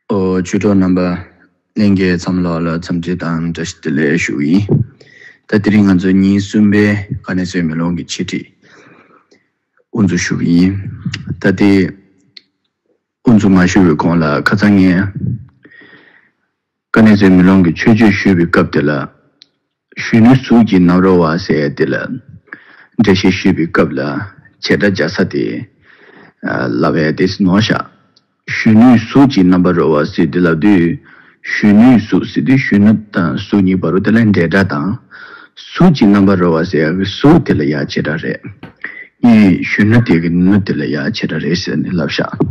བཅུ་དྲུག་རྣམ་པ་གླིང་གེ་འཚམས་ལགས་ལ་འཚམས་འདྲི་དང་བཀྲ་ཤིས་བདེ་ལེགས་ཞུ་ཡིན། ད་དེ་རིང་ང་ཚོ་ཉིན་གསུམ་པའི་ཀ་ནས་སོས་མེ་ལོང་གི་འཆད་ཁྲིད་དབུ་འཛུགས་ཞུ་གི་ཡིན། ད་ལྟའི་དབུ་འཛུགས་མ་ཞུ་བའི་གོང་ལ་ཁ་ཚང་ངས་ཀ་ནས་ཟད་མི་ལོང་གི་ཆོས་སྤྱོད་ཞུས་པའི་སྐབས་དེ་ལ། གཞོན་ནུའི་གཟུགས་ཀྱིས་རྣམ་རོལ་བ་ཟེར་ཡ་དེ་ལ། འགྲེལ་བཤད་ཞུས་པའི་སྐབས་ལ་བྱེ་བྲག་འཇའ་ས་དེ། ལ་བས་དེ་ཟིན་ནོ་ཞག། གཞོན་ནུའི་གཟུགས་ཀྱིས་རྣམ་པར་རོལ་བ་ཟེར་དེ་ལ་དུས། གཞོན་ནུའི་གཟུགས་ཟེར་དུས་གཞོན་ནུ་དང་གཟུགས་གཉིས་པ་རུ་དེ་ལ་འབྲེལ་སྒྲ་དང། གཟུགས་ཀྱིས་རྣམ་པར་རོལ་བ་ཟེར་ཡ་གི་གཟུགས་དེ་ལ་ཡང་བྱེ་བྲག་རེད། གཉིས། གཞོན་ནུ་དེ་གི་ནུ་དེ་ལ་ཡང་བྱེ་བྲག་རེད་ཟེར་ནས་ལབ་ཞག།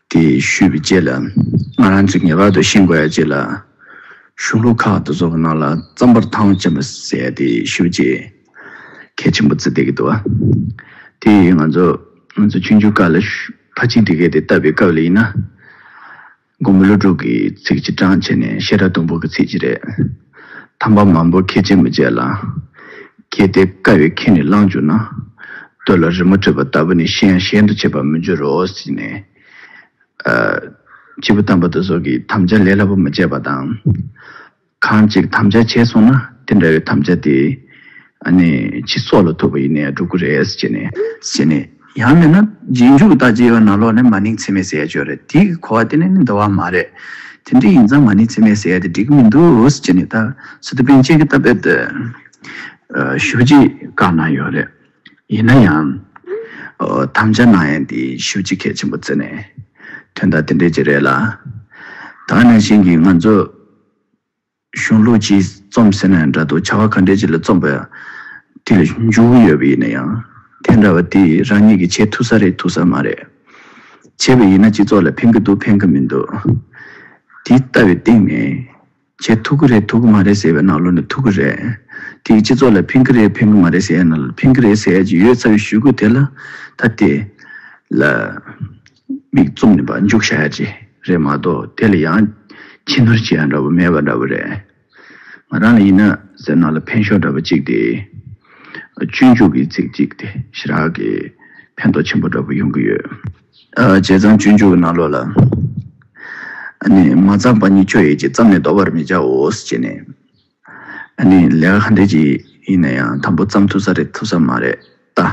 དེ་ཞུས་པའི་རྗེས་ལ་ང་རང་ཚོས་ངེས་པར་དུ་ཤིང་བརྐོ་ཡག་ཅེས་ལ་གཞུང་ལུགས་ཁག་ཏུ་བཟོ་བ་རྣམས་ལ་རྩམ་པར་ཐང་ཅན་པ་བཟས་ཏེ་ཞུ་རྗེས་གལ་ཆེན་པོ་བརྩི་བསྡད་ཀྱི་འདུག་དེ་ཡིས་ང་ཚོ་ང་ཚོ་ཆུང་ཆུང་དཀར་ལ་ཕ་གཅིག་འདི་གས་དེ་བཏབ་པའི་སྐབས་ལ་ཡིན་ན་དགོང་མོ་གློ་སྒྲུག་གི་ཚིག་གཅིག་བགྲང་བྱས་ནས་བཤད་གྲྭ་དུམ་བུ་གི་ཚིག་གཅིག་རེད། དམ་པ་མང་པོ་ཁས་འཆེ་མི་བྱེད་ལ། གལ་ཏེ་དཀའ་བའི་ཁས་ནི་བླངས་གྱུར་ན། སྟོད་ལ་རི་མོ་བྲིས་པ་ལྟ་བུ་ནི་གཞན་ཡང་གཞན་དུ་བྱེད་པར་མི་འགྱུར་རོ། ཞེས་ནས། སྤྱིལ་བུ་དམ་པ་དོལ་ཚོགས་ཀྱིས་དམ་བཅའ་ལས་སླ་པོ་མ་སྤྱད་པ་དང། གང་ཅིག་དམ་བཅའ་བྱས་སོང་ན་དེ་འདྲ་བའི་དམ་བཅའ་དེ། ནི་ཕྱི་སྲོག་ལ་ཐུག་པ་ཡིན་ནས་འགྲུབ་ཀྱི་རེད། ཅེས་ནས། ཡང་མིན་ན་རྗེས་འཇུག་ལྟར་ཇི་ཡོད་ན་ལོག་ནས་མ་ནིང་ཚིག་མེད་ཟེར་ཡ་ཆོས་རེད་དེའི་གོ་བ་དེ་ནི་འདོར་བ་མ་རེད། དེ་འདྲ་ཡིན་ཙང་མ་ནིང་ཚིག་མེད་ཟེར་ཡ་དེ་འགྲིག་གི་མི་འདུག་ཅེས་ནི་ད་སི་ཏུ་པན་ཅེ་གི་རྟ་དཔལ་དུ་ཞུ་རྗེས་བཀག་གནང་ཡོད་རེད། ཡིན་ན་ཡང། དམ་བཅའ་གནང་ཡ་འདི་ཞུ་རྗེས་གལ་ཆེན་པོ་བརྩི་ནས་དོན་དག་དེ་འདྲས་ཅིག་རེད་ལ། ད་ནང་བཞིན་གྱི་ང་ཚོ། གཞུང་ལུགས་ཀྱིས་རྩོམ་ཟེར་ན་འདྲ་འདུག་བྱ་བ་ག་འདྲའི་ཆེད་ལ་རྩོམ་པ་དེ་ལ་འཇུག་གི་ཡོད་པ་ཡིན་ན་ཡང། དེ་འདྲ་བ་དེ་རང་ཉིད་ཀྱིས་བྱེད་ཐུབ་ས་རེད་ཐུབ་ས་མ་རེད། བྱས་པ་ཡིན་ན་སྤྱི་ཚོགས་ལ་ཕན་གྱི་འདུག་ཕན་གྱི་མི་འདུག་དེ་ལྟ་བའི་སྟེང་ནས། བྱེད་ཐུབ་ཀྱི་རེད་ཐུབ་ཀྱི་མ་རེད་ཟེར་བའི་ནང་ལོགས་ནས་ཐུབ་ཀྱི་རེད། དེ་སྤྱི་ཚོགས་ལ་ཕན་གྱི་རེད་ཕན་གྱི་མ་རེད་ཟེར་ཡ་ན་ལ་ཕན་གྱི་རེད་ཟེར་ཡ་ཅིག་ཡོད་ཚ་བའི་ཞུ་སྐུལ་དེ་ལ་ད་དེ་ལ། མིག་བཙུམ་ནས་བར་འཇུག་བྱ་ཡ་ཅི་རེད་མ་གཏོགས་དེ་ལ་ཡང་ཕྱི་ནོར་བྱེད་ཡ་འདྲ་བོ་མེད་པ་འདྲ་བོ་རེད། ང་རང་ལ་ཡིན་ན་ཟེར་ནང་ལ་འཕེན་ཤོག་འདྲ་བོ་ཅིག་དེ་སྤྱོད་འཇུག་གི་ཚིག་ཅིག་དེ་ཞི་རག་གི་ཕན་ཐོག་ཆེན་པོ་འདྲ་བོ་ཡོང་གི་ཡོད། བྱས་ཙང་སྤྱོད་འཇུག་གི་ནང་ལོགས་ལ་ནས་མ་ཚང་པ་གཉིས་སྤྱོད་ཡས་ཅི་བརྩམས་ནས་ལྡོག་པར་མི་བྱའོ་ཞེས་ནས། ཨ་ནི་ལས་ཀ་ག་འདྲས་ཀྱི་ཡིན་ན་ཡང་དམ་པོ་བརྩམས་ཐུབ་ས་རེད་ཐུབ་ས་མ་རེད་ད།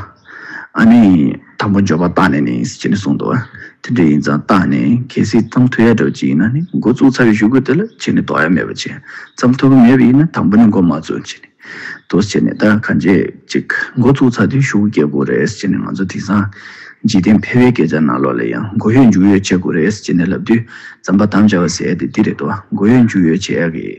ཨ་ནི་དམ་པོ་འཇོག་པ་རྟགས་ནས་ནི་ཅེས་ནི་གསུངས་འདུག་དེ་འདྲས་ཡིན་ཙང་རྟགས་ནས་གལ་སྲིད་བརྩམས་ཐུབ་ཡ་འདྲ་བ་ཅིག་ཡིན་ན་ནི་འགོ་བཙུགས་ཚར་བའི་ཞུ་སྐུལ་དེ་ལ་ཅིས་ནི་དོགས་ཡ་མེད་པ་བྱས་བརྩམས་ཐུབ་ཀྱི་མེད་པ་ཡིན་ན་དམ་པོ་ནི་འགོ་མ་བཙུགས་ཅེས་ནི་དུས་བྱས་ནས་ད་ག་འཇས་ཅིག་འགོ་བཙུགས་ཚར་དུས་ཞུ་སྐུལ་བཀལ་དགོས་རེད་ཅེས་ནི་ང་ཚོ་དེང་སང་འཇིག་རྟེན་ཕལ་བའི་སྐད་ཆ་ནང་ལོགས་ལ་ཡང་འགོ་ཡོད་མཇུག་ཡོད་བྱེད་དགོས་རེད་ཅེས་ནི་ལབ་དུས་བརྩམས་པ་དམ་བཅའ་བ་ཟེར་ཡ་དེ་འདི་རེད་དོ་འགོ་ཡོད་མཇུག་ཡོད་བྱེད་ཡ་གི།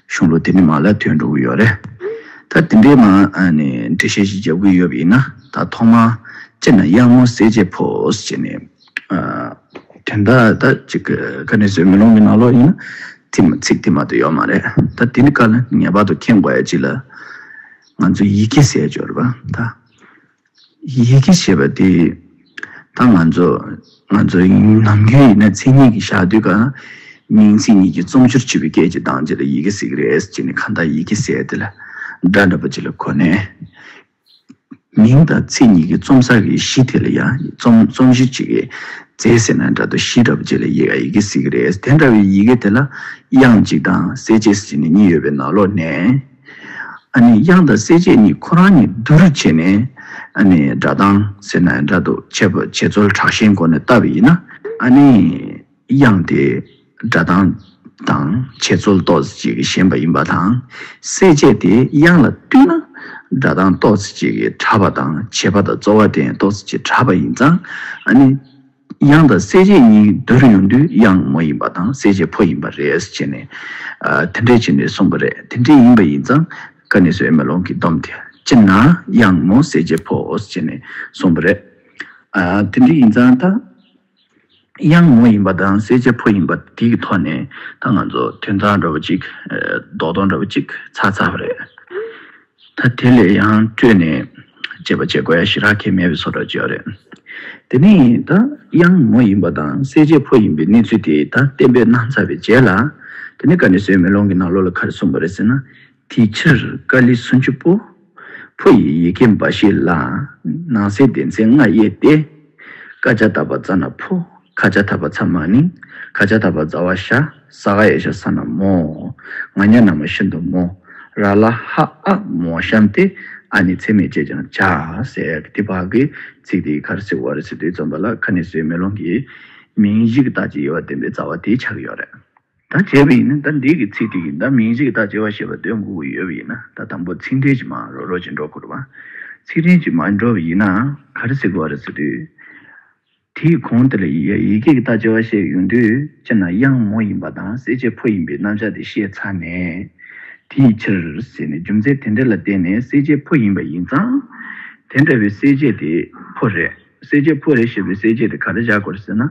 གཞུང་ལུགས་དེ་འདྲའི་མ་ལ་དོན་དྲུག་ཡོད་རེད། ད་དེ་འདྲའི་མ་ནི་འགྲེལ་བཤད་ཞིག་རྒྱབ་གི་ཡོད་པ་ཡིན་ན་ད་ཐོག་མ་སྤྱིར་ན་དབྱངས་མོ་གསལ་བྱེད་ཕོས་བྱས་ནས། དོན་དག་ད་ཅིག་ཁ་ནས་བཟོས་མི་ལོང་གི་ནག་ལོག་ཡིན་ན། ཚིག་དེ་མ་ཏོ་ཡོད་མ་རེད། ད་དེ་འདྲའི་བཀའ་ལ་ངེས་པར་དུ་མཁྱེན་དགོས་ཡ་ཅིག་ལ། ང་ཚོས་ཡི་གེ་གསལ་སྦྱོར་བ་ད། ཡི་གེ་ཞེས་པ་དེ་ད་ང་ཚོ་ང་ཚོ་ནམ་རྒྱུན་ཡིན་ན་མཚན་ཉིད་ཀྱི་ཞག་དུས་ཀ་མིང་ཚིག་གཉིས་ཀྱི་རྩོམ་སྦྱོར་བྱེད་པའི་སྐད་ཀྱི་གདངས་གཅིག་ལ་ཡི་གེ་ཟེར་གི་རེད་ཅེས་ནས་གང་དག་ཡི་གེ་ཟེར་དེ་ལ་སྒྲ་འདྲ་པོ་གཅིག་ལ་གོ་ནས། མིང་དང་ཚིག་གཉིས་ཀྱི་རྩོམ་ཟ་གི་གཞི་དེ་ལ་ཡང་རྩོམ་རྩོམ་གཞི་གཅིག་གིས་མཛེས་ཟེར་ན་འདྲ་དོ་གཞི་འདྲ་པོ་གཅིག་ལ་ཡི་ཡི་གེ་ཟེར་གི་རེད་དེ་འདྲ་བའི་ཡི་གེ་དེ་ལ་དབྱངས་གཅིག་དང་གསལ་བྱེད་ཅེས་ནས་གཉིས་ཡོད་པའི་ནང་ལོགས་ནས། ཨ་ནི་དབྱངས་དང་གསལ་བྱེད་གཉིས་ཁོ་རང་ཉིད་བསྡུ་རུ་བྱས་ནས། ཨ་ནི་སྒྲ་གདངས་ཟེར་ན་སྒྲ་དུ་བྱས་པ་བྱེད་རྩོལ་དྲག་ཤེས་སྒོ་ནས་བལྟ་བས་ཡིན་ན། ཨ་ནི་དབྱངས་དེ་སྒྲ་གདངས་དང་བྱེད་རྩོལ་རྟོག་ཟེར་བྱེད་ཀྱི་ཞེན་པ་ཡིན་པ་དང། གསལ་བྱེད་དེ་དབྱངས་ལ་བསྟུན་ན་སྒྲ་གདངས་རྟོག་ཟེར་བྱེད་ཀྱི་དྲག་པ་དང་བྱེད་པ་དང་རྩོལ་བ་དེ་རྟོག་ཟེར་བྱེད་དྲག་པ་ཡིན་ཙང་ཨ་ནི། དབྱངས་དང་གསལ་བྱེད་གཉིས་བསྡུར་ཡོང་དུས་དབྱངས་མོ་ཡིན་པ་དང་གསལ་བྱེད་ཕོ་ཡིན་པ་རེད་ཅེས་ནས། དེ་འདྲས་བྱས་ནས་གསུངས་པ་རེད་དེ་འདྲས་ཡིན་པ་ཡིན་ཙང་ཀ་ནས་སུ་ཨེ་མ་ལོང་གིས་བསྡོམས་དེ་སྤྱིར་ན་དབྱངས་མོ་གསལ་བྱེད་ཕོ་ཅེས་ནས་གསུངས་པ་རེད། དེ་འདྲས་ཡིན་ཙང་ད་དབྱངས་མོ་ཡིན་པ་དང་གསལ་བྱེད་ཕོ་ཡིན་པ་དེ་གི་ཐོག་ནས་ད་ང་ཚོ་དོན་དག་འདྲ་བོ་ཅིག་རྡོག་རྡོག་འདྲ་བོ་ཅིག་ཚར་ཚར་བ་རེད། ད་དེ་ལས་ཡང་སྤྲོས་ནས་སྤྱད་པ་བྱེད་དགོས་ཡ་ཞི་རག་ཁྱད་མེད་པའི་ཚོར་བ་སྤྱོད་རེད། དེ་ནས་ད་དབྱངས་མོ་ཡིན་པ་དང་གསལ་བྱེད་ཕོ་ཡིན་པའི་གནས་ཚུལ་དེ་ད་བསྟན་པའི་སྣང་ཚ་བའི་རྗེས་ལ། དེ་ནས་ཀ་ནི་སོའི་མེ་ལོང་གི་ནང་ལོགས་ལ་ག་རེ་གསུངས་པ་རེད་ཟེར་ན། དེའི་ཕྱིར་ཀ་ལི་སུན་ཆུ་པོ། ཕོ་ཡི་ཡི་གེ་འབའ་ཞིག་ལ་ནང་གསེས་ལྡན་ཚེ་ལྔ་དབྱེ་སྟེ། ཀ་ཅཱ་དག་པ་རྩ་ན་ཕུ། ཁ་ཅཱ་དག་པ་ཚ་མ་ནིང། ཁ་ཅཱ་དག་པ་རྫ་བ་ཤ། ས་ག་ཡེ་ཤ་ས་ན་མོ། ང་ཉྭ་ན་མོ་ཤིན་ཏུ་མོ། ར་ལ་ཧ་ཨ་མོ་བཤམས་ཏེ། ཨ་ནི་ཚད་མེད་ཅེས་ཀྱང་བྱ། ཟེར། དེ་དཔག་གི་ཚིག་དེའི་ཁར་སིག་བར་སིག་ཏུའི་རྩོམ་པ་ལ་ཁ་ནི་སོའི་མེ་ལོང་གི། མིང་གཞིག་དག་ཅིག་ཡོད་པར་བསྟན་པའི་རྩ་བ་དེའི་ཆ་གི་ཡོད་རེད། ད་བྱས་པ་ཡིན་ན་ད་འདིས་ཀྱི་ཚིག་འདི་ཡིན་ད་མིང་གཅིག་ད་བྱས་པ་ཞེས་པ་འདོད་འགོ་གི་ཡོད་པ་ཡིན་ན་ད་དང་པོ་ཚིག་འབྲེལ་གྱི་མ་རོ་རོ་གྱི་འགྲོ་འཁོར་བ། ཚིག་འབྲེལ་གྱི་མ་འགྲོ་བ་ཡིན་ན་ག་རེ་ཟེར་དགོས་བ་རེད་ཟེར་དུས། དེའི་གོང་དེ་ལ་ཡིག་གེ་གི་ད་བྱས་བ་ཞེས་ཡོང་དུས་སྤྱིར་ན་དབྱངས་མོ་ཡིན་པ་དང་གསལ་བྱེད་ཕོ་ཡིན་པའི་རྣམ་གཞག་དེ་ཤེས་ཚར་ནས། དེའི་ཕྱིར་ཟེར་ནས་རྒྱུ་མཚན་དེ་འདྲ་ལ་བརྟེན་ནས་གསལ་བྱེད་ཕོ་ཡིན་པ་ཡིན་ཙང། དེ་འདྲ་བའི་གསལ་བྱེད་དེ་ཕོ་རེད་གསལ་བྱེད་ཕོ་རེད་ཞེས་པའི་གསལ་བྱེད་དེ་ག་རེ་བཞག་དགོས་རེད་ཟེར་ན།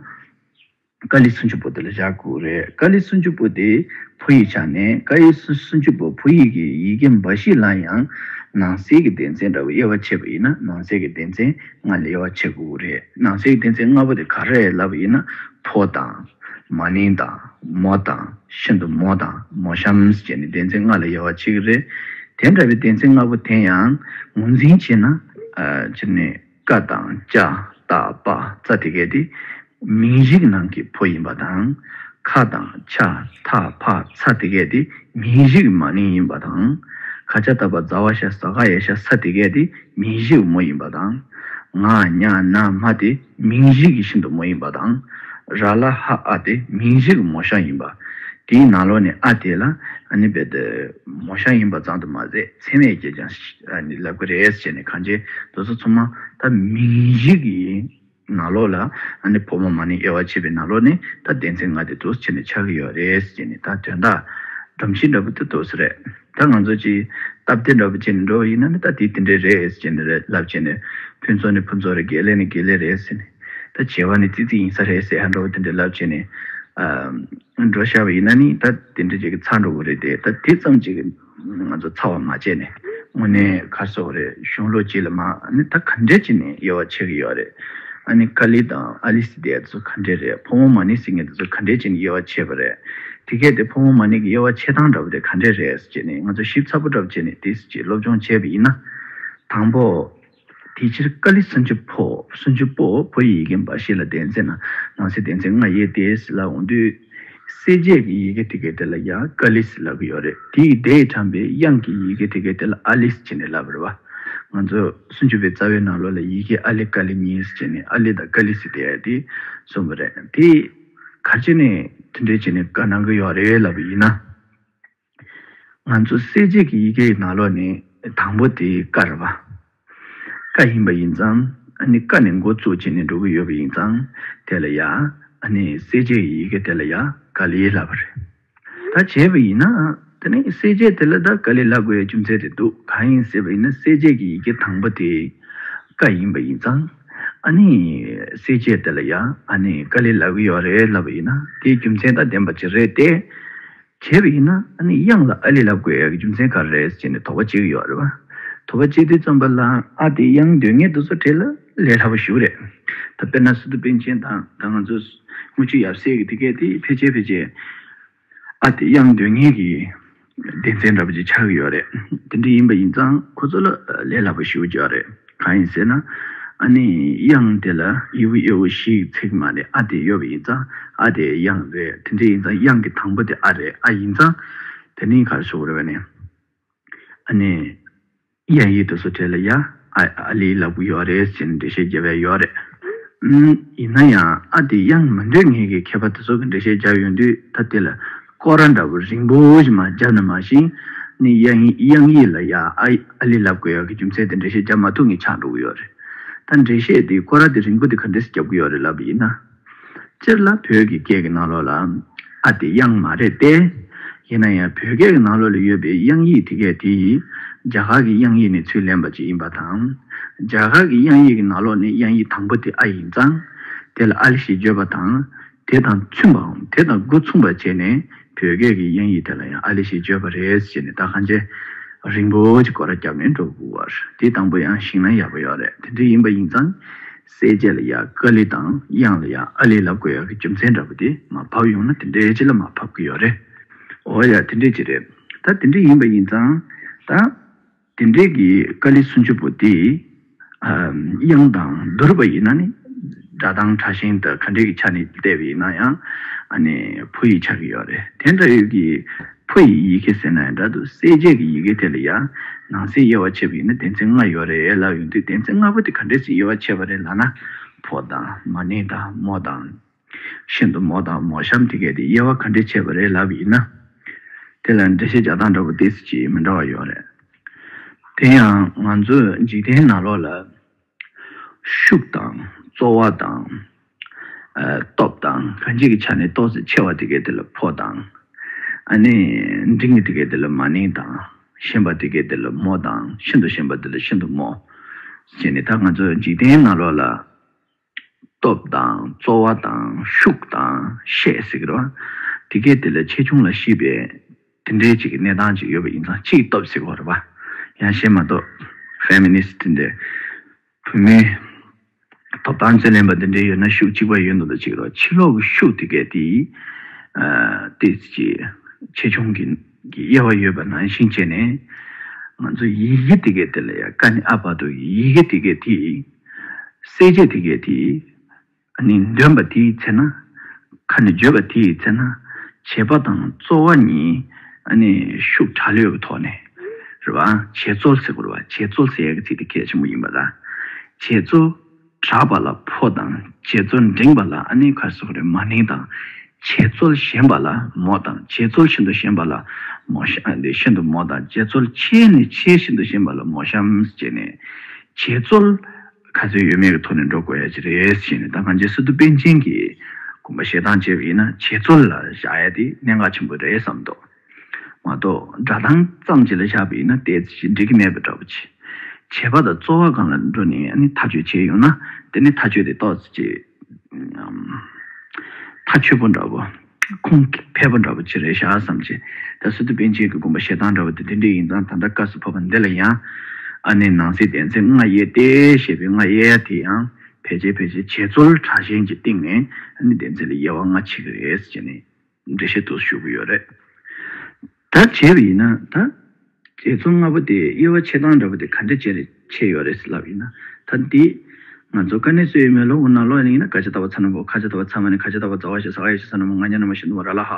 ཀ་ལི་སུན་ཆུ་བོ་དེ་ལ་བཞག་དགོས་རེད་ཀ་ལི་སུན་ཆུ་བོ་དེ་བོད་ཡིག་ཆགས་ནས་ཀ་ཡི་སུན་ཆུ་བོ་བོད་ཡིག་གི་ཡི་གེ་འབའ་ཞིག་ལ་ཡང་ནང་གསེས་ཀྱི་སྡེ་ཚན་འདྲ་བོ་དབྱེ་བ་ཕྱེས་པ་ཡིན་ན་ནང་གསེས་ཀྱི་སྡེ་ཚན་ལྔ་ལ་དབྱེ་བ་ཕྱེ་དགོས་རེད་ནང་གསེས་ཀྱི་སྡེ་ཚན་ལྔ་པོ་དེ་ག་རེད་ལབ་པ་ཡིན་ན་ཕོ་དང། མ་ནིང་དང། མོ་དང། ཤིན་ཏུ་མོ་དང་མོ་ཤམས་བཅས་ནི་སྡེ་ཚན་ལྔ་ལ་དབྱེ་བ་ཕྱེ་གི་རེད་དེ་འདྲ་བའི་སྡེ་ཚན་ལྔ་པོ་དེ་ཡང་ངོས་འཛིན་བྱས་ན། བཀའ་དང་བཅའ་བཏགས་པ་རྩ་དེ་གའི་དེ་མིང་གཞིག་ནང་གི་ཕོ་ཡིན་པ་དང། ཁ་དང་ཆ་ཐ་ཕ་ཚ་དེ་གའི་དེ་མིང་གཞིག་མ་ནིང་ཡིན་པ་དང། ཁ་ཆ་ད་པ་ཛ་བ་ཤ་ཟ་ག་ཡ་ཤ་ས་དེ་གའི་དེ་མིང་གཞིག་མོ་ཡིན་པ་དང། ང་ཉ་ན་མ་དེ་མིང་གཞིག་ཤིན་ཏུ་མོ་ཡིན་པ་དང། ར་ལ་ཧ་ཨ་དེ་མིང་གཞིག་མོ་ཤ་ཡིན་པ། དེའི་ནང་ལོགས་ནས་ཨ་དེ་ལ་ཨ་ནི་བེ་དེ་མོ་ཤ་ཡིན་པ་བརྫང་དུ་མ་ཟད། མཚན་མེད་ཀྱིས་ཀྱང་ལབ་ཀྱི་རེད་ཅེས་ནས་གངས་ཅན་རྡོ་སོལ་ཚོང་མ་ད་མི་རིགས་ཀྱི་ནག་ལོག་ལ་བོད་མོ་མ་ནི་དབྱེ་བ་ཕྱེད་པའི་ནག་ལོག་ནི་ད་བདེན་ཚིག་ང་དེ་དུས་ཕྱི་ནས་ཆགས་ཀྱི་ཡོད་རེད་ཅེས་ནས་ད་དོན་དག་སྒྲོམ་གཞི་འདྲ་པོ་དེ་དུས་སུ་རེད་ད་ང་ཚོ་ཅིག་སྟབས་བདེ་འདྲ་པོ་བྱས་ནས་འགྲོ་བ་ཡིན་ན་ནི་ད་དེ་དེ་འདྲའི་རེད་ཅེས་ནས་རེད་ལབ་བྱས་ནས་ཕུན་ཚོགས་ནི་ཕུན་ཚོགས་རེད་དགེ་ལེགས་ནི་དགེ་ལེགས་རེད་ཟེར་ནས་ད་བྱེད་པ་ནི་ཙིག་ཙིག་ཡིན་ས་རེད་ཟེར་ཧ་འགྲོ་བ་དེ་འདྲའི་ལབ་བྱས་ནས་འགྲོ་ཤར་བ་ཡིན་ན་ནི་ད་དེ་འདྲ་བྱས་ཀྱི་ཚར་འགྲོ་བ་རེད་དེ་ད་དེ་ཙམ་ཅིག་ང་ཚོ་ཚ་བ་མ་བྱས་ནས་དངོས་གནས་ཁ་གསོ་རེད་གཞུང་ལོ་གཅིག་ལ་མ་ནི་ད་ག་འདྲས་ཀྱི་ནས་ཡོ་བ་ཆེ་གི་ཡོ་རེད་ཨ་ནི་ཀ་ལི་དང་ཨ་ལི་སི་དེ་ཡ་དེ་ཚོ་ག་འདྲས་རེད་ཕོ་མོ་མ་ནི་སི་ངེ་དེ་ཚོ་ག་འདྲས་ཀྱི་ནས་ཡོ་བ་ཆེ་བ་རེད་དེ་གས་དེ་ཕོ་མོ་མ་ནི་གི་ཡོ་བ་ཆེ་ཐང་འདྲ་བོ་དེ་ག་འདྲས་རེད་ཅེས་ནས་ང་ཚོ་ཞིབ་ཚགས་པོ་འདྲ་བོ་བྱས་ནས་དེ་སི་ཅེས་སློབ་སྦྱོང་བྱས་པ་ཡིན་ན། དང་པོ། དེ་ཕྱིར་ཀཱ་ལི་སན་ཇུ་པོ། སུན་ཇུ་པོ། བོད་ཡིག་ཡིག་མཁན་འབའ་ཞིག་ལ་བདེན་ཚེ་ན་ནང་གསེས་བདེན་ཚེ་ལྔ་ཡོད་དེ་ཟེར་ལབ་འོང་དུས། གསལ་བྱེད་ཀྱི་ཡི་གེ་དེ་གའི་དེ་ལ་ཡ་ཀཱ་ལི་ཟེར་ལབ་ཀྱི་ཡོད་རེད་དེ་ཡི་དེས་དྲངས་པའི་དབྱངས་ཀྱི་ཡི་གེ་དེ་གའི་དེ་ལ་ཨཱ་ལི་ཟེར་ནས་ལབ་རེད་བ། ང་ཚོ་སུན་ཇུ་པོའི་རྩ་བའི་ནང་ལོགས་ལ་ཡི་གེ་ཨཱ་ལི་ཀཱ་ལི་གཉིས་བྱས་ནས་ཨཱ་ལི་དང་ཀཱ་ལི་ཟེར་བསྡད་ཡོད་དེ་གསུངས་པ་རེད་དེ། གར་བྱས་ནས་མཐུན་འབྲེལ་བྱས་ནས་ཀ་གནང་གི་ཡོད་རེད་ལབ་པ་ཡིན་ན། ང་ཚོ་གསལ་བྱེད་ཀྱི་ཡི་གེ་ཡི་ནང་ལོགས་ནི་དང་པོ་དེ་ཀ་རེད་པ། ཀ་ཡིན་པ་ཡིན་ཙང་ནི་ཀ་ནས་འགོ་བཙུགས་བྱས་ནས་འགྲོ་གི་ཡོད་པ་ཡིན་ཙང་དེ་ལ་ཡ། ནི་གསལ་བྱེད་ཀྱི་ཡི་གེ་དེ་ལ་ཡ་ཀ་ལི་ལབ་པ་རེད། ད་བྱས་པ་ཡིན་ན་དེ་ནི་གསལ་བྱེད་དེ་ལ་ད་ཀ་ལི་ལབ་དགོས་ཡའི་རྒྱུ་མཚན་དེ་འདུག་གང་ཡིན་ཟེར་བ་ཡིན་ན་གསལ་བྱེད་ཀྱི་ཡི་གེ་དང་པོ་དེ་ཀ་ཡིན་པ་ཡིན་ཙང་ནི་གསལ་བྱེད་དེ་ལ་ཡ། ནི་ཀ་ལི་ལབ་གི་ཡོད་རེད་ལབ་པ་ཡིན་ན་དེའི་རྒྱུ་མཚན་ད་བདེན་པ་ཅི་རེད་དེ། བྱས་པ་ཡིན་ན་ཨ་ནི་གཡང་ལ་ཨ་ལི་ལབ་དགོས་ཡག་གི་རྒྱུ་མཚན་ག་རེ་རེད་ཅེས་ནས་དོགས་པ་བྱེད་ཀྱི་ཡོད་རེད་བ། དོགས་པ་བྱེད་དུས་རྩོམ་པ་ལ་ཨ་དེ་གཡང་དོན་གཉེར་དུ་བཟོ་འཕྲལ་ལ་ལས་སླ་པོ་ཞུ་རེད། ད་དཔེར་ན་སི་ཏུ་པིན་ཆེན་དང་ད་ང་ཚོ་དངུལ་ཆུ་ཡབ་སྲས་ཀྱི་དེ་སྐད་དེ་ཕལ་ཆེར་ཕལ་ཆེར་ཨ་དེ་གཡང་དོན་གཉེར་གྱི་སྡེ་ཚན་འདྲ་པོ་ཅིག་ཆགས་ཀྱི་ཡོད་རེད། དེ་འདྲ་ཡིན་པ་ཡིན་ཙང་ཁོ་ཚོ་ལ་ལས་སླ་པོ་ཞུ་རྒྱུ་ཡོད་རེད། གང་ཡིན་ཟེར་ན། ཨ་ནི་དབྱངས་དེ་ལ་དབྱི་བོ་གཡོ་བོ་ཞིག་ཚིག་མ་རེད་ཨ་དེ་གཡོ་བོ་ཡིན་ཙང་ཨ་དེ་དབྱངས་རེད་དེ་འདྲ་ཡིན་ཙང་དབྱངས་ཀྱི་དང་པོ་དེ་ཨ་རེད་ཨ་ཡིན་ཙང་དེ་ནི་གར་སོ་རེད་བ་ནི། ཨ་ནི་དབྱངས་ཡིག་ཏུ་སོ་ཁྲེ་ལ་ཡ་ཨ་ཨ་ལི་ལ་བུ་ཡོ་རེད་ཟེར་ནས་འགྲེལ་བཤད་རྒྱབ་བས་ཡོ་རེད། ཡིན་ན་ཡང་ཨ་དེ་དབྱངས་མི་འདོད་ངེས་ཀྱི་མཁས་པ་དེ་ཚོ་གི་འགྲེལ་བཤད་རྒྱབ་ཡོང་དུས་ད་དེ་ལ། ཀོ་ར་འདྲ་བོ་རིང་པོ་བཞིན་མ་རྒྱབ་ན་མ་ཞིང་ནི་དབྱངས་ཡིག་ལ་ཡ་ཨ་ཨ་ལི་ལབ་དགོས་ཡག་གི་རྒྱུ་མཚན་དེ་འགྲེལ་བཤད་རྒྱབ་མ་ཐུབ་ངས་ཆགས་འགྲོ་གི་ཡོད་རེད་ད་འགྲེལ་བཤད་དེ་ཀོ་ར་དེ་རིང་པོ་དེ་ག་འདྲེས་རྒྱབ་གི་ཡོད་རེད་ལབ་པ་ཡིན་ན། སྤྱིར་ལ་བོད་ཀྱི་སྐད་ཀྱི་ནང་ལོགས་ལ་ཨ་དེ་དབྱངས་མ་རེད་དེ། ཡིན་ན་ཡང་བོད་སྐད་ཀྱི་ནང་ལོགས་ལ་ཡོད་པའི་དབྱངས་ཡིག་དེ་གས་དེ་ཡིས་རྒྱ་གར་གྱི་དབྱངས་ཡིག་ནས་ཚུར་ལེན་པ་ཅིག་ཡིན་པ་དང། རྒྱ་གར་གྱི་དབྱངས་ཡིག་གི་ནང་ལོགས་ནས་དབྱངས་ཡིག་དང་པོ་དེ་ཨ་ཡིན་ཙང་དེ་ལ་ཨ་ལི་ཞེས་བརྗོད་པ་དང། དེ་དང་མཐུན་པའམ་དེ་དང་སྒོ་མཚུངས་པར་བྱས་ནས་བོད་སྐད་ཀྱི་དབྱངས་ཡིག་དེ་ལ་ཡང་ཨཱ་ལི་ཞེས་བརྗོད་པ་རེད་ཅེས་ནས་རྟ་ཁ་འཇལ། རིང་པོ་ཅིག་སྐོར་ར་བརྒྱབ་ནས་འགྲོ་དགོས་བར་དེའི་དང་པོ་ཡང་ཞིག་ན་ཡག་པོ་ཡོད་རེད་དེ་འདྲ་ཡིན་པ་ཡིན་ཙང། གསལ་བྱེད་ལ་ཡང་ཀ་ལི་དང་དབྱངས་ལ་ཡང་ཨཱ་ལི་ལབ་དགོས་ཡག་གི་རྒྱུ་མཚན་འདྲ་པོ་དེ་མ་ཕབ་ཡོང་ན་དེ་འདྲའི་ཅི་ལ་མ་ཕབ་གི་ཡོད་རེད། འོ་ཡ་དེ་འདྲའི་ཅི་རེད་ད་དེ་འདྲ་ཡིན་པ་ཡིན་ཙང་ད། དེ་འབྲེལ་གྱི་ཀཱ་ལི་སུན་ཆུ་བོ་དེ། དབྱངས་དང་བསྡུར་བ་ཡིན་ན་ནི། སྒྲ་གདངས་ཕྲ་ཞིང་དང་ག་འདྲེས་ཀྱི་ཆ་ནས་བལྟས་པ་ཡིན་ན་ཡང། བུ་ཡིས་ཆགས་ཀྱི་ཡོད་རེད། དེ་འདྲ་ཡོད་ཀྱི། བུ་ཡི་ཡི་གེ་ཟེར་ན་ཡང་འདྲ་འདུག་གསལ་བྱེད་ཀྱི་ཡི་གེ་དེ་ལ་ཡང། ནང་གསེས་དབྱེ་བ་ཕྱེས་པ་ཡིན་ན་གདན་ཚིག་ལྔ་ཡོད་རེད་ལབ་ཡོང་དུས་གདན་ཚིག་ལྔ་པོ་དེ་ག་འདྲེས་སུ་དབྱེ་བ་ཕྱེས་པ་རེད་ལབ་ན། ཕོ་དང། མ་ནི་དང་མོ་དང། ཤིན་ཏུ་མོ་དང་མོ་གཤམ་དེ་གས་དེ་དབྱེ་བ་ག་འདྲས་བྱས་པ་རེད་ལབ་ཡིན་ན། དེ་ལ་འགྲེལ་བཤད་རྒྱག་སྟངས་འདྲ་པོ་དེས་ཀྱིས་མི་འདྲ་བ་ཡོད་རེད། དེ་ཡང་ང་ཚོས་འཇིག་རྟེན་ནང་ལོགས་ལ། ཤུགས་དང་རྩོལ་བ་དང། སྟོབས་དང་ག་འཇིག་གི་ཆ་ནས་རྟོགས་ཚེ་ཆེ་བ་དེ་གས་དེ་ལ་ཕོ་དང། ཨ་ནི་འབྲིང་གི་དེ་གས་དེ་ལ་མ་ནིང་དང། ཞན་པ་དེ་གས་དེ་ལ་མོ་དང་ཤིན་ཏུ་ཞན་པ་དེ་ལ་ཤིན་ཏུ་མོ། ཞེས་ནི་ད་ང་ཚོས་འཇིག་རྟེན་ནང་ལོགས་ལ། སྟོབས་དང་རྩོལ་བ་དང་ཤུགས་དང་ཤས་ཟེར་གི་རེད་བ། དེ་གས་དེ་ལས་ཆེ་ཆུང་ལ་ཤིས་པའི་དེ་འདྲའི་ཅིག་གནས་སྟངས་ཅིག་ཡོད་པ་ཡིན་ཙང་ཅིག་སྟོབས་ཟེར་གི་རེད་བ། ཡང་གཞན་མ་གཏོགས Feminist འདི་བུད་མེད་ཐོབ་ཐང་རྩོད་ལེན་པ་འདི་འདྲའི་ཡོད་ན་ཤུགས་གཅིག་པ་ཡོད་འདུག་ལ་ཅིག་རོ་ཕྱི་ལོག་གི་ཤུགས་དེ་གས་དེའི་དེ་ཅིག་ཆེ་ཆུང་གི། གི་དབྱེ་བ་ཡོད་པ་ནང་བཞིན་བྱས་ནས། ང་ཚོ་ཡི་གེ་དེ་གའི་དེ་ལ་ཡ་ཀ་ནི་ཨ་བྷ་དོ་ཡི་ཡི་གེ་དེ་གའི་དེ་ཡི། གསལ་བྱེད་དེ་གའི་དེ་ཡི། ནི་འདོན་པ་དེའི་ཚེ་ན། ཁ་ནི་བརྗོད་པ་དེའི་ཚེ་ན། བྱེད་པ་དང་རྩོལ་བ་གཉིས། ནི་ཤུགས་དྲག་ལེའུ་ཐོག་ནས། རེ་བ། བྱེད་རྩོལ་སེ་གོ་རེ་བ་བྱེད་རྩོལ་སེ་ཡ་ཀ་ཚིག་དེ་གལ་ཆེན་པོ་ཡིན་པ་ལ། བྱེད་རྩོལ། གྲགས་པ་ལ་ཕོ་དང་བྱེད་རྩོལ་འབྲིང་བ་ལ་ཨ་ནེ་ཁ་སོགས་རེ་མ་ནིང་དང། བྱེད་རྩོལ་ཞན་པ་ལ་མོ་དང་བྱེད་རྩོལ་ཤིན་ཏུ་ཞན་པ་ལ་མོ་ཤིན་ཏུ་མོ་དང་བྱེད་རྩོལ་ཆེ་ནི་ཆེ་ཤིན་ཏུ་ཞན་པ་ལ་མོ་ཤམ་ཅེས་ནས། བྱེད་རྩོལ་ག་ཚོད་ཡོད་མེད་ཀྱི་ཐོག་ནས་འགྲོ་དགོས་ཡ་ཅི་རེད་ཞེས་ནས་ད་གང་ཇི་སྲིད་དུ་པཎ་ཆེན་གྱིས་དགོངས་པ་བཞེས་སྟངས་བྱས་པ་ཡིན་ན་བྱེད་རྩོལ་ལ་བཞག་ཡ་དེ་གནད་འགག་ཆེན་པོ་རེད་བསམ་མདོག་མ་གཏོགས་སྒྲ་གདངས་ཙམ་གྱི་ལ་བཞག་པས་ན་དེ་ཅིས་འགྲིག་གི་མེད་པ་འདྲ་བོ་ཆེ། བྱེད་པ་དང་རྩོལ་བ་གང་ལ་འགྲོ་ནས་ནི་མཐའ་དཔྱོད་བྱེད་ཡོང་ན་དེ་ནི་མཐའ་དཔྱོད་དེ་རྟོག་བྱེད་ཀྱི་མཐའ་དཔྱོད་པོ་འདྲ་བོ། ཁུངས་འཕེར་པོ་འདྲ་བོ་ཆེ་རེད་ཤག་བསམ་ཆེ། ད་སི་ཏུ་པན་ཆེན་གྱི་དགོན་པ་ཞེ་སྡང་འདྲ་བོ་དེ་དེ་འདྲས་ཡིན་ཙང་ད་ལྟ་བཀའ་ཟུར་ཕབ་པ་འདི་ལ་ཡང། ཨ་ནེ་ནང་སྲིད་བསྟན་འཛིན་རྔ་གཡས་ཏེ་ཞེས་པའི་རྔ་གཡས་དེ་ཡང་ཕལ་ཆེར་ཕལ་ཆེར་བྱེས་རྩོལ་དྲག་ཞན་གྱི་སྟེང་ནས་ཨ་ནེ་བསྟན་འཛིན་ལ་ཡལ་བ་རྔ་ཆེ་གི་རེད་ཟེར་ནས། འགྲེལ་བཤད་དུ་ཞུ་གི་ཡོད་རེད། ད་བྱས་པ་ཡིན་ན་ད། རྗེ་བཙུན་ལྔ་པོ་དེ་དབྱེ་བ་ཕྱེ་སྟངས་འདྲ་པོ་དེ་ག་འདྲས་བྱས་རེད་ཕྱེ་ཡོད་རེད་ལབ་ཡིན་ན་ད་འདི། ང་ཚོ་ཀ་ནས་སུ་ཡིན་མོད་ལོ་འུ་ན་ལོ་ཡིན་ན་ཡིན་ན་ཀ་ཆ་ད་བ་ཚ་ན་བོ་ཁ་ཆ་ད་བ་ཚ་མ་ནི་ཁ་ཆ་ད་བ་ཛ་བ་ཞེ་ས་ག་ཡེ་ཤེ་ས་ན་མོ་ང་ཉ་ན་མོ་ཤིན་ཏུ་མོ་ར་ལ་ཧ་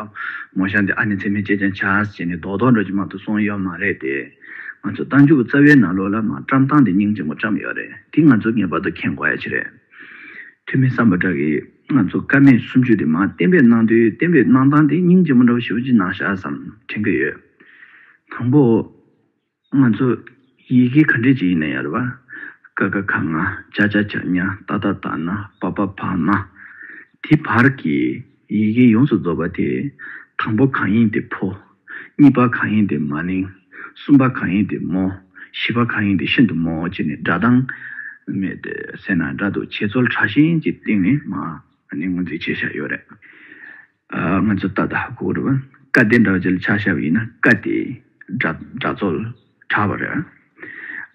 མོ་ཤང་དེ་ཨ་ནི་ཚེ་སྨད་ཅེ་ཅང་ཆ་ཨ་ཟེ་ནི་རྡོག་རྡོག་འགྲོ་ཅི་མང་དུ་སོང་ཡོད་མ་རེད་དེ། ང་ཚོ་རྟ་མཇུག་རྩ་བའི་ན་ལོ་ལ་མ་བཀྲམ་སྟངས་དེ་སྙིང་རྗེ་མོ་བཀྲམ་ཡོད་རེད་དེ་ང་ཚོ་ངེས་པར་དུ་མཁྱེན་དགོས་ཡ་ཆེ་རེད། ཐུ་མི་བསམ་པ་འདྲ་གི། ང་ཚོ་ཀ་མད་སུམ་ཅུ་དེ་མ་བསྟན་པའི་གནང་དོན་བསྟན་པའི་གནང་སྟངས་དེ་སྙིང་རྗེ་མོ་འདྲ་བོ་ཞིག་གི་ནང་བཞག་བསམ་དྲན་གྱི་ཡོད། དང་པོ། ང་ཚོ་ཡི་གེ་ག་འདྲས་ཅིག་ཡིན་ན་ཡང་རེད་བ། ཀ་ཀ་ཁ་ང་ཅག་ཅག་ཅག་ཉ་ཏག་ཏག་ཏག་ན་པ་པ་བ་མ། དེ་བར་གྱི་ཡི་གེ་ཡོངས་སུ་རྫོགས་པ་དེ་དང་པོ་གང་ཡིན་དེ་ཕོ་གཉིས་པ་གང་ཡིན་དེ་མ་ནིང། གསུམ་པ་གང་ཡིན་དེ་རྨོ། བཞི་པ་གང་ཡིན་དེ་ཤིན་ཏུ་རྨོ་ཅེས་ནི་སྒྲ་གདངས་མེད་དེ་སེར་ནག་འདྲ་འདུག་བྱེད་རྩོལ་ཕྲ་ཞིང་གི་སྟེང་ནས་མ་ནི་ངོས་འཛིན་བྱེད་བྱ་ཡོད་རེད། ང་ཚོ་ད་ལྟ་གོ་རུ་ཀ་དེ་འདྲ་བ་ཅིག་ལ་ཆ་བཞག་པ་ཡིན་ན་ཀ་དེ་སྒྲ་རྩོལ་ཕྲ་བ་རེད།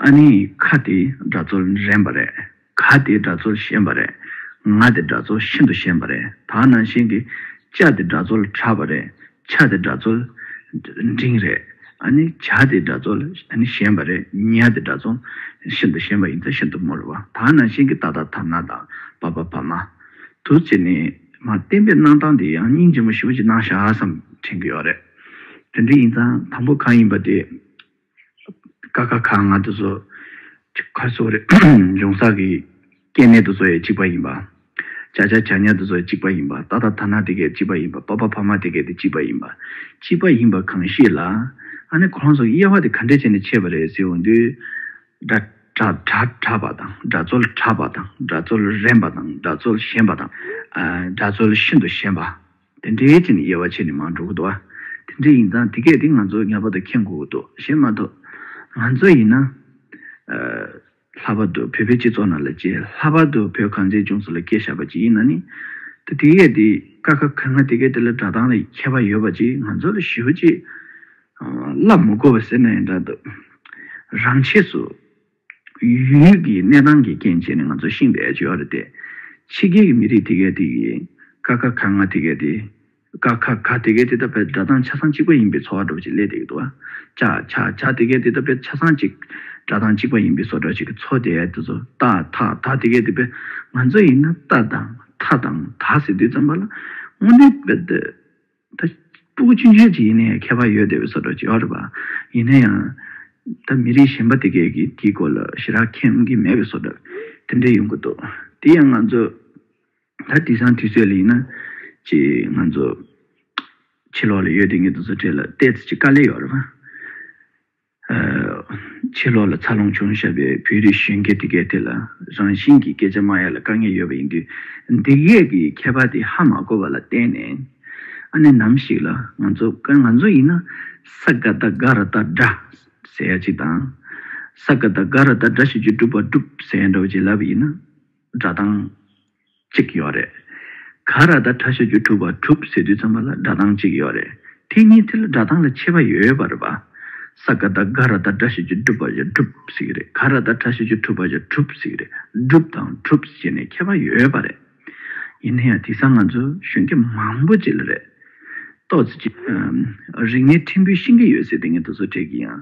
ཨ་ནི་ཁ་དེ་སྒྲ་རྩོལ་རན་པ་རེད། ག་དེའི་སྒྲ་ཚོར་ཤེས་པ་རེད། ང་དེ་སྒྲ་ཚོར་ཤིན་ཏུ་ཤེས་པ་རེད་ད་ནང་བཞིན་གྱི། ལྕགས་དེ་སྒྲ་ཚོར་ཁྲ་བ་རེད། ཕྱག་དེ་སྒྲ་ཚོར། འབྲིང་རེད། ཨ་ནི་བྱ་དེ་སྒྲ་ཚོར། ཨ་ནི་ཞན་པ་རེད། ཉལ་དེ་སྒྲ་ཚོར། ཤིན་ཏུ་ཞན་པ་ཡིན་ཚ་ཤིན་ཏུ་མོ་རེད་བ། ད་ནང་བཞིན་གྱི་ཏག་ཏག་དང་ན་དང། བ་བ་བ་མ། དུ་ཚིག་ནི། མ་བསྟན་པའི་གནང་སྟངས་དེ་ཡང་སྙིང་རྗེ་མོ་ཞེ་བོ་ཅིག་གནང་ཤགས་སམ་དྲན་གྱི་ཡོད་རེད། དེ་འདྲ་ཡིན་ཙང་དང་པོ་གང་ཡིན་པ་དེ། ཀ་ཁ་ག་ང་དུ་བཟོ། ཆུ་ཁ་སོ་རེ་འབྱུང་བསགས་ཀྱི། སྐྱེ་གནས་དུ་བཟོ་ཡས་གཅིག་པ་ཡིན་པ། བྱ་བྱ་བྱ་ཉག་དུ་བཟོ་ཡས་གཅིག་པ་ཡིན་པ། ད་ད་ད་ནག་དེ་གས་གཅིག་པ་ཡིན་པ། ཕ་ཕ་ཕ་མ་དེ་གས་དེ་གཅིག་པ་ཡིན་པ། གཅིག་པ་ཡིན་པ་གང་ཤེས་ལ། ཨ་ནི་ཁོ་རང་ཚོ་དབྱེ་བ་དེ་ག་འདྲས་བྱས་ནས་ཕྱེས་པ་རེད་ཟེར་འོང་དུས། སྒྲ་སྒྲ་གྲགས་པ་དང་སྒྲ་རྩོལ་གྲགས་པ་དང་སྒྲ་རྩོལ་རན་པ་དང་སྒྲ་རྩོལ་ཞན་པ་དང། སྒྲ་རྩོལ་ཤིན་ཏུ་ཞན་པ། དེ་འདྲའི་ཅི་ནི་དབྱེ་བ་ཕྱེ་ནི་མ་འགྲོ་གི་འདུག་ཨ། དེ་འདྲ་ཡིན་ཙང་དེ་སྐད་དེ་ང་ཚོ་ངེས་པར་དུ་མཁྱེན་དགོས་ཀྱི་འདུག་ཞེས་སྨྲ་ཐུབ། ང་ཚོ་ཡིན་ན། ལྷག་པར་དུ་བོད་པའི་སྤྱི་ཚོགས་ནང་ལ་གྱི་ལྷག་པར་དུ་བོད་གངས་ཅན་ལྗོངས་སུ་ལ་སྐྱེས་བཞག་པ་ཅིག་ཡིན་ན་ནི། དེ་དེ་སྐད་དེ་ཀ་ཁ་ག་ང་དེ་སྐད་དེ་ལ་སྒྲ་གདངས་ལ་ཁྱད་པར་ཡོད་པ་ཅིག་ང་ཚོ་ལ་ཞིའོ་ཅེས་བསླབ་མི་དགོས་པ་ཟེར་ན་ཡང་འདྲ་འདུག་རང་ཆས་སུ། ཡུལ་གྱི་གནས་སྟངས་ཀྱི་རྐྱེན་བྱས་ནས་ང་ཚོ་ཤིང་བལ་བྱོ་བ་རེད་དེ། ཕྱི་རྒྱལ་གྱི་མི་རིགས་དེ་གའི་དེ་གི། ཀ་ཁ་ག་ང་དེ་གའི་དེ། ཀ་ཁ་ག་དེ་གའི་དེ་ད་བལ་སྒྲ་གདངས་ཆ་ཚང་གཅིག་པ་ཡིན་པའི་ཚོ་བ་སྒྲོག་ཅིག་ལས་དེ་གི་དུ་བ། ཅག་ཆ་ཆ་དེ་གའི་དེ་ད་བལ་ཆ་ཚང་གཅིག། སྒྲ་གདངས་གཅིག་པ་ཡིན་པའི་ཚོ་སྒྲོག་ཅིག་གི་ཚོ་དེ་གའི་དེ་ཚོ་ཏ་ཐ་ད་དེ་གའི་དེ་བལ་ང་ཚོ་ཡིན་ན་ཏ་དང་ཐ་དང་ད་ཟེར་དུས་ཙམ་པ་ལ། སྔོན་དེ་བལ། ད་སྤྲུལ་སྐུ་ཅུང་ཟད་ཅིག་ཡིན་ན་ཡང་མཁས་པ་ཡོད་བསྡད་པའི་སོགས་གྲགས་ཅིག་ཨོ་རེད་པ། ཡིན་ན་ཡང། ད་མི་རིགས་གཞན་པ་དེ་གས་ཀྱིས་དེའི་སྐོར་ལ་ཞི་རགས་ཁེངས་ཀྱི་མེད་པའི་སོགས་གྲགས་དེ་འདྲ་ཡོང་གི་འདུག་དེ་ཡང་ང་ཚོ། ད་དེང་སང་དུས་ཚོད་ལ་ཡིན་ན། ཅི་ང་ཚོ། ཕྱི་ལོགས་ལ་ཡོད་དེ་ངེད་དང་ཚོ་ཕྲད་ལ་བལྟས་ཚེ་ཅི་དཀའ་ལས་ཡོད་རེད་པ། ཕྱི་ལོགས་ལ་ཚ་རླུང་བྱུང་ཞབས་པའི་བོད་རིགས་གཞོན་སྐྱེས་དེ་གའི་ཐད་ལ་རང་བཞིན་གྱིས་སྐད་ཆ་མ་ཡ་ལ་དཀའ་ངལ་ཡོད་པ་ཡིན་དུས་འདི་གའི་གི་མཁས་པ་དེ་ཧ་མ་གོ་བ་ལ་བརྟེན་ནས་ཨ་ནེ་ནམ་ཞིག་ལ་ང་ཚོ་དཀར་ང་ཚོ་ཡིན་ན་ས་ག་ད་ག་ར་ད་འདྲ་ཟེར་ཡ་ཅིག་དང་ས་ག་ད་ག་ར་ད་འདྲ་ཞིག་ཅིག་སྒྲུབ་པ་སྒྲུབ་ཟེར་ཡ་འདྲ་བ་ཅིག་ལབ་ཡིན་ན་འདྲ་དང། གཅིག་ཡོད་རེད། ག་ར་ད་གྲ་བྱ་རྒྱུ་གྲུབ་བ་གྲུབ་ཟེར་དུས་ཚང་མ་ལ་སྒྲ་གདངས་གཅིག་ཡོད་རེད་དེ་གཉིས་དེ་ལ་སྒྲ་གདངས་ལ་ཁྱད་པ་ཡོད་པ་རེད་པ། ས་ག་ད་ག་ར་ད་གྲ་བྱ་རྒྱུ་གྲུབ་བ་བྱ་གྲུབ་ཟེར་གྱི་རེད་ག་ར་ད་གྲ་བྱ་རྒྱུ་གྲུབ་བ་བྱ་གྲུབ་ཟེར་གྱི་རེད་གྲུབ་དང་གྲུབ་ཟེར་ནས་ཁྱད་པ་ཡོད་པ་རེད། ཡིན་ན་ཡང་དེ་སང་ང་ཚོ་གཞོན་སྐྱེས་མང་པོ་བྱེད་ལ་རེད། ཏོག་ཙེ་རིག་གནས་ཕྲན་བུའི་ཤིང་གི་ཡོད་ཟེར་དེ་ངས་དུ་ཚོད་ཁྲེལ་གྱི་ཡིན།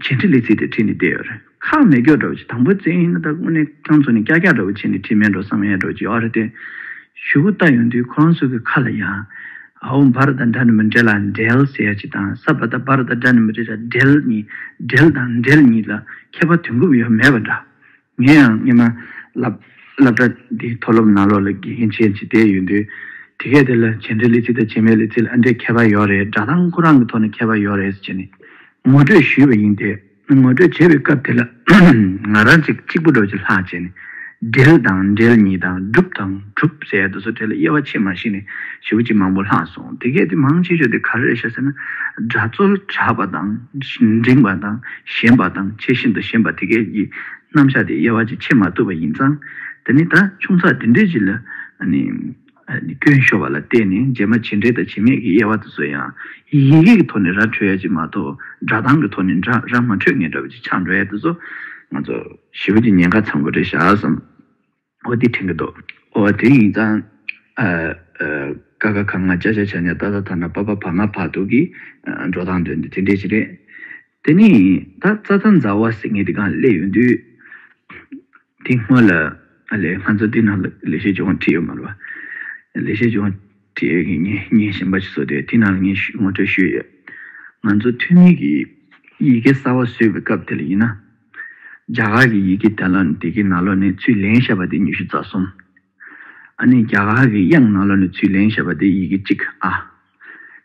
བྱེད་འཕྲི་ལེ་ཚིག་དེ་འཕྲི་ནི་བདེ་ཡོད་རེད། ཁག་མེད་སྐྱོ་འགྲོ་བྱེད་དང་པོ་རྩེ་ཡིན་ན་ད་དངོས་གནས་ཁྱང་ཚོ་ནི་ཀྱག་ཀྱག་འགྲོ་བྱེད་ནི་འཕྲི་མེད་འགྲོ་བསམ་ཡས་འགྲོ་བྱེད་ཨོ་རེད་དེ། ཞུ་བོ་ལྟ་ཡོང་དུས་ཁོ་རང་ཚོ་གི་ཁ་ལ་ཡང། ཨའོ་འབར་དང་འདྲ་ནི་མི་འདྲེ་ལ་འདྲེལ་ཟེར་ཡ་ཅིག་དང་ས་བ་ད་འབར་དང་འདྲ་ནི་མི་འདྲེ་ལ་འདྲེལ་གཉིས་འདྲེལ་དང་འདྲེལ་གཉིས་ལ་ཁྱད་པར་དོན་འགུབ་ཡོད་མེད་པ་འདྲ། ངས་ཡང་སྙན་མ་ལབ། སླབ་གྲྭ་འདིའི་མཐོ་སློབ་ནང་ལོག་ལ་དགེ་རྒན་བྱེད་ཅིག་བསྡད་ཡོད་དུས། དེ་གས་དེ་ལ་བྱས་འབྲས་ལི་ཚི་དང་བྱས་མེད་ལི་ཚིལ་ཨ་འདྲས་ཁྱད་པར་ཡོད་རེད་སྒྲ་གདངས་ཁོ་རང་གི་ཐོག་ནས་ཁྱད་པར་ཡོད་རེད་ཟེར་ནས་ངོ་སྤྲོད་ཞུས་པ་ཡིན་ཏེ། ངོ་སྤྲོད་བྱེད་པའི་སྐབས་དེ་ལ་ང་རང་ཅིག་གཅིག་པུ་རྡོ་རྗེ་ལྷག་བྱས་ནས། འབྲེལ་དང་འབྲེལ་གཉིས་དང་སྒྲུབ་དང་གྲུབ་ཟེར་རྡོ་སོལ་དྲེལ་ལ་དབྱེ་བ་ཕྱེད་མ་ཞིག་ནས་བྱེའུ་གཅིག་མང་པོ་ལྷག་སོང་དེ་གས་དེ་མང་ཆེ་ཤོས་དེ་ག་རེ་རེད་ཤ་ཟེར་ན། སྒྲ་རྩོལ་དྲགས་པ་དང། འབྲིང་བ་དང། ཞེན་པ་དང་ཆེས་ཤིན་ཏུ་ཞེན་པ་དེ་སྐད་ཀྱི་རྣམ་གཞག་དེ་དབྱེ་བ་ཅིས་ཕྱེ་མ་ཐུབ་པ་ཡིན་ཙང། དེ་ནི་ད་ཆུང་ཚགས་འདི་འདྲའི་ཅིག་ལ། སྐྱོན་ཤོར་བ་ལ་བལྟས་ནས་རྗེས་མ་བྱེད་འབྲེལ་དང་བྱེད་མེད་ཀྱི་དབྱེ་བ་དེ་ཚོ་ཡང། ཡི་གེ་ཀྱི་ཐོག་ནས་ར་འཕྲོད་ཡ་ཅིག་མ་གཏོགས་སྒྲ་གདངས་ཀྱི་ཐོག་ནས་འདྲ་ར་མ་འཕྲོད་ངེས་འདྲ་བ་ཅིག་ཆགས་འགྲོ་ཡ་དེ་ཚོ། ང་ཚོ། ཞི་བ་གྱི་ཉེན་ཁ་ཚང་པོ་རེད་བཞག་བསམ། ཨོ་དེ་དྲན་གི་འདུག་ཨོ་དེ་ཡིན་ཙང། ཀ་ཁ་ག་ང་ཅག་ཅག་བྱས་ནས་ད་ད་ཐ་ན་པ་པ་བར་མ་བར་འདུག་གི། འགྲོ་སྟངས་དོན་དེ་དེ་འདྲས་ཞིག་རེད། དེ་ནས་ད་རྩ་ཐང་མཛའ་བ་ཟེར་ངེས་དེ་གང་སླེབས་ཡོང་དུས། དེ་སྔོན་ལ། ཨ་ལེ་ང་ཚོ་འདི་ན་ལས་བྱེད་ཅུང་བ་ཁྲིད་ཡོད་མ་རེད་པ། ལས་བྱེད་ཅུང་བ་ཁྲིད་ཡོད་གི་ངས་ངའི་ཞན་པ་ཅིག་བཟོ་དུས་དེ་ན་ལ་ངས་ཞུས་ངོ་སྤྲོད་ཞུས་ཡོད། ང་ཚོ་འཐུས་མི་གིས་ཡི་གེ་གསར་བ་བཟོས་པའི་སྐབས་དེ་ལ་ཡིན་ན། རྒྱ་གར་གྱི་ཡི་གེ་དེ་ལ་ནི་དེ་གའི་ན་ལོ་ནི་ཚུལ་ལེན་བཤད་པ་སྟེ་ཉི་ཤུ་རྩ་གསུམ། ཨ་ནི་རྒྱ་གར་གྱི་དབྱངས་ན་ལོ་ནི་ཚུལ་ལེན་བཤད་པ་སྟེ་ཡི་གེ་གཅིག་ཨ།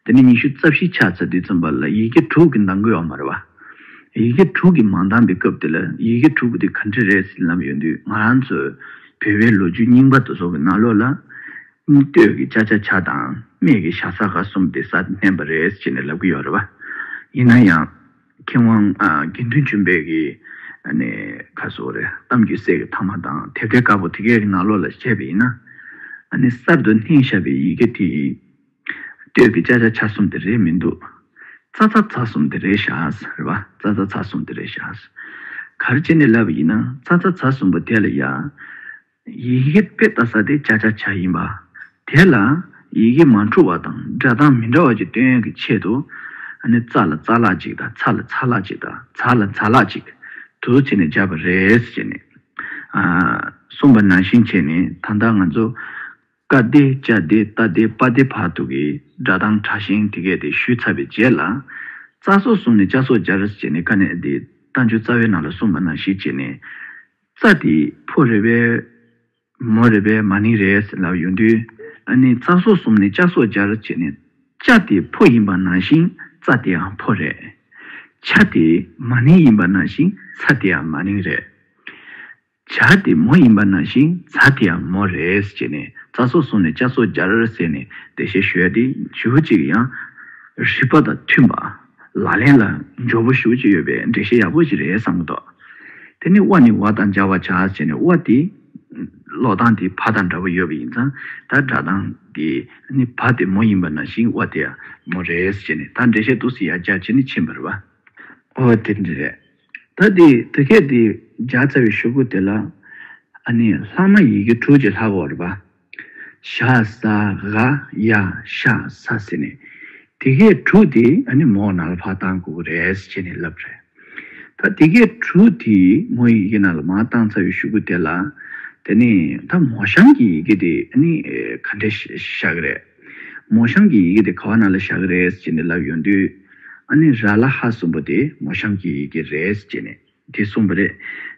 དེ་ནས་ཉི་ཤུ་རྩ་བཞི་ཕྱག་འཚལ་དུས་མཚོན་པ་ལ་ཡི་གེ་དྲུག་གི་མདངས་འགུལ་བ་མ་རེད་པ། ཡི་གེ་དྲུག་གིས་མ་འདངས་པའི་སྐབས་དེ་ལ་ཡི་གེ་དྲུག་དེ་ག་འདྲ་རེད་ཟེར་ལབ་ཡོང་དུས་ང་རང་ཚོས་བོད་པའི་ལོ་རྒྱུས་རྙིང་པ་དུ་སོག་གི་ན་ལོ་ལ། སྟོད་ཀྱི་ཅཱ་ཅཱ་ཆ་དང་སྨད་ཀྱི་ཤ་ས་ཀ་གསུམ་སྟེ་ས་དེ་བསྟན་པ་རེད་ཅེས་ནས་ལབ་ཀྱི་ཡོད་རེད་པ། ཡིན་ན་ཡང། མཁས་དབང་དགེ་འདུན་ཆོས་འཕེལ་གྱིས་ནི་ཁ་སོ་རེ་གཏམ་རྒྱུད་གསེར་གྱི་ཐ་མ་དང་དེ་འདྲའི་དཀར་པོ་དེ་གའི་ནང་ལོགས་ལ་བཤད་པ་ཡིན་ན། ནི་གསར་དུ་སྣེ་ཤར་བའི་ཡི་གེ་དེ་ཡིས། ལྟོས་པའི་ཅ་ཅ་ཆ་གསུམ་དེ་རེད་མི་འདུག། ཚ་ཚ་ཚ་གསུམ་དེ་རེད་བཞག་རེད་པ་ཚ་ཚ་ཚ་གསུམ་དེ་རེད་བཞག། གར་བྱེད་ནས་ལབ་པ་ཡིན་ན་ཚ་ཚ་ཚ་གསུམ་པོ་དེ་ལ་ཡ། ཡི་གེ་དཔེ་ལྟ་ས་དེ་བཅའ་བཅའ་བྱ་ཡིན་པ། དེ་ལ་ཡི་གེ་མ་འཁྲུལ་བ་དང་སྒྲ་གདངས་མི་འདྲ་བ་གཅིག་སྟོན་གྱི་ཆེད་དུ། རྩ་ལ་རྩ་ལག་ཅིག་དང་ཚ་ལ་ཚ་ལག་ཅིག་དང་འཛག་ལ་འཛག་ལག་ཅིག་དུ་བྱས་ནས་སྦྱར་བ་རེད་ཅེས་ནས་གསུངས་པ་ནང་བཞིན་བྱས་ནས་ད་ལྟ་ང་ཚོ། ཀ་བདེ་བཅའ་བདེ་རྟ་བདེ་པ་བདེ་བར་དུ་གི་སྒྲ་གདངས་དྲག་ཞན་དེ་གས་དེ་ཞུས་ཚར་བའི་རྗེས་ལ། རྩ་སོགས་བཟུང་ནས་བཅའ་སོགས་སྦྱར་ཅེས་ནས་ཀ་ནས་དེ་རྟ་མཆུ་རྩ་བའི་ནང་ལ་གསུངས་པ་ནང་བཞིན་བྱས་ནས། རྩ་འདི་ཕོ་རེད་བས། མོ་རེད་བས་མ་ནིང་རེད་ཟེར་ལབ་ཡོང་དུས། ནི་རྩ་སོགས་གསུམ་ནི་ལྕགས་སོགས་སྦྱར་བྱས་ནས། ལྕགས་དེ་ཕོ་ཡིན་པ་ནང་བཞིན་རྩ་དེའང་ཕོ་རེད། བྱ་དེ་མ་ནིང་ཡིན་པ་ནང་བཞིན་ཚ་དེའང་མ་ནིང་རེད། བྱ་དེ་མོ་ཡིན་པ་ནང་བཞིན་ཚ་དེའང་མོ་རེད་ཅེས་ནི་རྩ་སོགས་གསུམ་ནི་ལྕགས་སོགས་སྦྱར་ཟེར་ནས་འགྲེལ་བཤད་ཞུས་ཏེ་རྗེ་བོ་གཅིག་གིས་ཡང། རིགས་པ་དང་མཐུན་པ། ལག་ལེན་ལ་འཇོག་པོ་ཞུགས་ཀྱི་ཡོད་པས་འགྲེལ་བཤད་ཡག་པོ་ཞིག་རེད་བསམ་གྱི་འདུག་དེ་ནི་བ་ནི་བ་དང་སྦྱར་བར་བྱ་ཟེར་ནས་བ་དེ་ལོག་གཏང་དེ་བ་དང་འདྲ་པོ་ཡོད་པ་ཡིན་ཙང་ད་སྒྲ་གདངས་དེ་ནི་བ་དེ་མོ་ཡིན་པ་ནང་བཞིན་བ་དེ་ཡང་མོ་རེད་ཅེས་ནས་ད་འགྲེལ་བཤད་ཏུགས་སུ་ཡར་སྦྱར་བྱས་ནས་ཕྱིན་པར་བ། ཨོ་དེ་འདྲ་རེད། ད་དེ་དུས་སྐད་དེ་སྦྱར་ཚར་བའི་ཞོགས་པོ་དེ་ལ། ཨ་ནི་ལྷག་མ་ཡི་གེ་དྲུག་ཅེས་ལྷག་གོ་བར་བ། ཤ་ཟ་ག་ཡ་ཤ་ཟ་ཟེར་ནས་དེ་སྐད་དྲུག་དེ་ཨ་ནི་མོ་ནལ་ཕ་བཏང་དགོས་ཀྱི་རེད་ཟེར་བྱས་ནས་ལབ་རེད། ད་དེ་སྐད་དྲུག་དེ་མོ་ཡི་གེ་ནལ་མ་བཏང་ཚར་བའི་ཤུ་གུ་དེ་ལ་དེ་ནས་ད་མོ་ཤམ་གྱི་ཡི་གེ་དེ་ཨ་ནི་ག་འདྲས་བཞག་གི་རེད། མོ་ཤམ་གྱི་ཡི་གེ་དེ་ག་བ་ན་ལ་བཞག་གི་རེད་ཟེར་བྱས་ནས་ལབ་ཡོང་དུས་ཨ་ནི་ར་ལ་ཧ་གསུམ་པོ་དེ་མོ་ཤམ་གྱི་ཡི་གེ་རེད་ཟེར་བྱས་ནས་དེ་གསུངས་པ་རེད།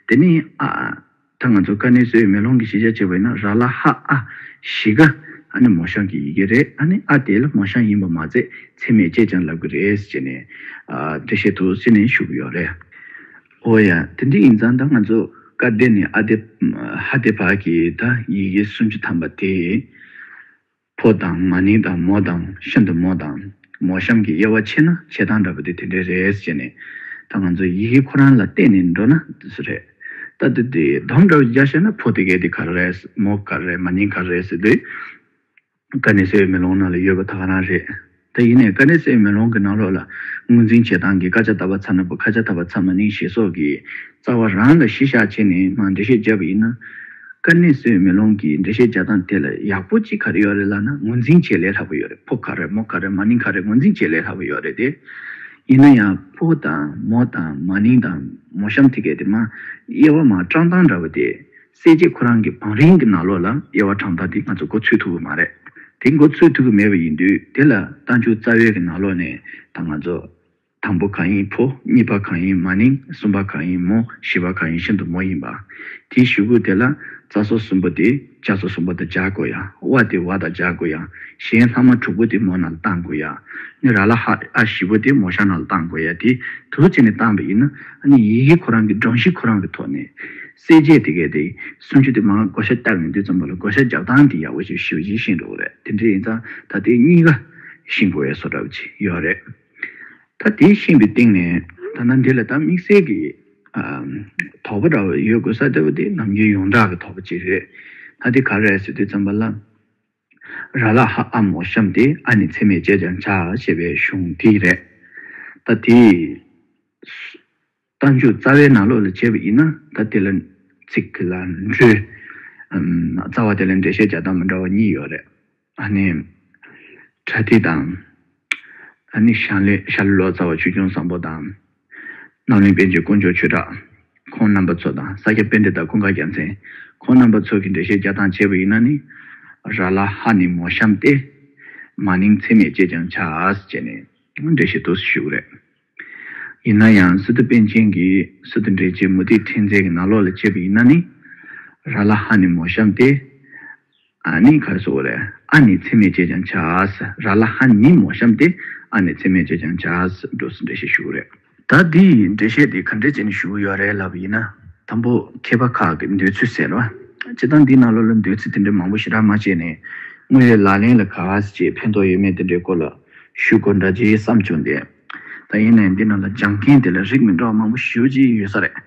དེ་ནས་ཨ། ད་ང་ཚོ་ཀ་ནི་སོའི་མེ་ལོང་གི་གཞི་ཆ་བྱེད་པ་ཡིན་ན་ར་ལ་ཧ་ཨ་བཞི་ཀ་ཨ་ནི་མོ་ཤང་གི་ཡི་གེ་རེད་ཨ་ནི་ཨ་དེ་ལ་མོ་ཤང་ཡིན་པ་མ་ཚད་ཚད་མས་དཔྱད་ཀྱང་ལབ་གི་རེད་ཅེས་ནས་འགྲེལ་བཤད་དུ་བསྲིས་ནས་ཞུ་གི་ཡོད་རེད། ཨོ་ཡ། དེ་འདྲ་ཡིན་ཙང་ད་ང་ཚོ་ཀ་དེ་ནས་ཨ་དེ་ཧ་དེ་བར་གྱི་ད་ཡི་གེ་སུམ་ཅུ་ཐམ་པ་དེ། ཕོ་དང་མ་ནིང་དང་མོ་དང་ཤིན་ཏུ་མོ་དང་མོ་གཤམ་གྱི་དབྱེ་བ་ཕྱེ་ན་བྱེ་ཐང་འདྲ་པོ་དེ་དེ་འདྲའི་རེད་ཅེས་ནས། ད་ང་ཚོ་ཡི་གེ་ཁོ་རང་ལ་བལྟས་ནས་འགྲོ་ན་དེ་ཚོ་རེད། ད་དེ་དེ་དོམ་འདྲ་བོ་རྒྱག་ཤེས་ན་ཕོ་དེ་གའི་དེ་ག་རེ་རེད་མོ་ག་རེ་རེད་མ་ནིང་ག་རེ་རེད་ཟེར་དུས། ག་ནས་ཟེར་བའི་མེ་ལོང་ནང་ལ་ཡོད་པ་ད་ག་རང་རེད། དེ་ཡིན་ནས་ཀ་ནི་སའི་མེ་ལོང་གི་ནང་ལོགས་ལ་ངོས་འཛིན་བྱེད་སྟངས་ཀྱིས་ཀ་ཆ་དག་པ་ཚ་ན་བུ་ཁ་ཆ་དག་པ་ཚ་མ་ནིང་ཞེས་སོགས་ཀྱི་རྩ་བ་རང་ལ་གཞི་བཞག་བྱས་ནས་མང་འགྲེལ་བཤད་བརྒྱབ་པ་ཡིན་ན། ཀ་ནི་སའི་མེ་ལོང་གི་འགྲེལ་བཤད་བྱ་སྟངས་དེ་ལ་ཡག་པོ་ཅི་ག་རེ་ཡོད་རེད་ལབ་ན་ངོས་འཛིན་བྱེད་ལས་སླ་པོ་ཡོད་རེད་ཕོ་ཁ་རེད་མོ་ཁ་རེད་མ་ནིང་ཁ་རེད་ངོས་འཛིན་བྱེད་ལས་སླ་པོ་ཡོད་རེད་དེ། ཡིན་ན་ཡང་ཕོ་དང་མོ་དང་མ་ནིང་དང་མོ་གཤམ་ཐིག་གེ་དེ་མ་དབྱེ་བ་མ་བཀྲག་མདངས་འདྲ་བོ་དེ། གསལ་བྱེད་ཁོ་རང་གི་བང་རིམ་གྱི་ནང་ལོགས་ལ་དབྱེ་བ་གྲངས་རྟགས་འདི་ང་ཚོ་འགོ་ཚུད་ཐུབ་ཀྱི་མ་རེད། དེ་འགོ་ཚུད་ཐུབ་ཀྱི་མེད་པ་ཡིན་དུས་དེ་ལ་རྟ་མཆུ་རྩ་བའི་གྱི་ནང་ལོགས་ནས་ད་ང་ཚོ། དང་པོ་གང་ཡིན་ཕོ་གཉིས་པ་གང་ཡིན་མ་ནིང་གསུམ་པ་གང་ཡིན་མོ་བཞི་པ་གང་ཡིན་ཤིན་ཏུ་མོ་ཡིན་པ། དེའི་གཞུ་གུ་དེ་ལ་རྩ་སོ་གསུམ་པོ་དེ་ལྕགས་སོ་གསུམ་པོ་དང་སྦྱར་དགོས་ཡ་བ་དེ་བ་དང་སྦྱར་དགོས་ཡ་གཞན་ལྷག་མ་དྲུག་པོ་དེ་མོ་ནང་ལ་བཏང་དགོས་ཡ་ནི་ར་ལ་ཧ་ཨ་བཞི་པོ་དེ་མོ་ཤ་ནང་ལ་བཏང་དགོས་ཡ་དེ་དུ་བྱས་ནས་བཏང་པ་ཡིན་ན་ནི་ཡི་གེ་ཁོ་རང་གི་སྒྲོམ་གཞི་ཁོ་རང་གི་ཐོག་ནས། གསལ་བྱེད་དེ་གལ་ཏེ་སུམ་ཅུ་དེ་མ་བགོ་བཤའ་བཏབ་ཡོང་དུས་ཙམ་པོ་ལ་བགོ་བཤའ་རྒྱག་སྟངས་དེ་ཡག་པོ་ཞིག་ཞུ་བྱེད་ཤེས་འགྲོ་གི་རེད་དེ་འདྲ་ཡིན་ཙང་ད་དེ་གཉིས་ཀ་ཤེས་དགོས་བསོ་གྲབ་ཅིག་ཡོད་རེད་ད་དེ་ཤེས་པའི་སྟེང་ནས་ད་ནང་འདི་ལ་ད་དམིགས་བསལ་གྱི་དོགས་པ་འདྲ་བོ་ཡོད་དགོས་ས་དེ་བོ་དེ་ནམ་རྒྱུན་ཡོངས་གྲགས་ཀྱི་དོགས་པ་ཅིག་རེད་ད་དེ་ག་རེད་ཟེར་དུས་ཙམ་པ་ལ་ར་ལ་ཧ་ཨ་མོ་གཤམ་དེ་ཨ་ནི་འཚེ་མེད་སྤྱད་ཀྱང་བྱ་ཞེས་པའི་གཞུང་དེ་རེད་ད་དེས། རྟ་མཆོག་རྩ་བའི་ནང་ལོགས་ལ་བྱས་པ་ཡིན་ན་ད་དེ་ལ་ཚིག་གི་ལ་འགྲོའི་རྩ་བ་དེ་ལ་འགྲེལ་བཤད་བྱ་སྟངས་མི་འདྲ་བ་གཉིས་ཡོད་རེད། ཨ་ནི། བྲ་ཐིག་དང། ཨ་ནི་ཤར་ལི་ཤར་ལི་ལོ་ཙཱ་བ་ཆོས་སྐྱོང་བཟང་པོ་དང། ནང་བློན་པན་ཆེན་དཀོན་མཆོག་ཆོས་གྲགས་ཁོང་རྣམ་པ་ཚོ་དང་ས་སྐྱ་པན་ཏེ་དང་ཀུན་དགའ་རྒྱལ་མཚན་ཁོང་རྣམ་པ་ཚོ་གིས་འགྲེལ་བཤད་བྱ་སྟངས་བྱས་པ་ཡིན་ན་ནི། ར་ལ་ཧ་ནི་མོ་གཤམ་སྟེ། མ་ནིང་ཚེ་མེད་ཅེས་ཀྱང་བྱ། ཅེས་ནི་འགྲེལ་བཤད་ཐུགས་སུ་ཞུགས་རེད། ཡིན་ན་ཡང་སི་ཏུ་པན་ཆེན་གྱིས་སི་ཏུ་འདྲེ་རྗེ་མུ་ཏིག་ཕྲེང་མཛེས་ཀྱི་ནག་ལོག་ལ་བཅད་པ་ཡིན་ན་ནི། ར་ལ་ཧ་ནི་མོ་གཤམ་སྟེ། ཨ་ནི་གར་སོ་ཝར། ཨ་ནི་ཚེ་མེད་ཅེས་ཀྱང་བྱ། ར་ལ་ཧ་ནི་མོ་གཤམ་སྟེ། ཨ་ནི་ཚེ་མེད་ཅེས་ཀྱང་བྱ། འགྲོ་སི་འདྲེ་བཤད་ཞུ་རེད། ད་འདི་ཡི་འདྲེ་བཤད་དེ་ག་འདྲེ་བྱས་ནས་ཞུ་ཡོད་རེད་ལབ་པ་ཡིན་ན། དང་པོ་མཁས་པ་ཁག་གི་འདོད་ཚུལ་ཟེར། བྱེད་སྟངས་འདིས་ནག་ལོག་ལ་འདོད་ཚུལ་དེ་འདྲ་མང་པོ་ཞེ་དྲག་མ་བྱས་ནས། དངོས་ཡོད་ལག་ལེན་ལ་ག་ཟེ་ཕན་ཐོག་ཡོད་མེད་དེ་འདྲའི་སྐོར་ལ་ཞུ་དགོས་འདྲ་རྗེས་བསམ་བྱུང་སྟེ། ད་ཡིན་ནས་འདི་རྣམས་ལ་སྦྱང་མཁན་དེ་ལ་རིགས་མི་འདྲ་བ་མང་པོ་ཞི་བ་ཅིག་ཡོད་ས་རེད།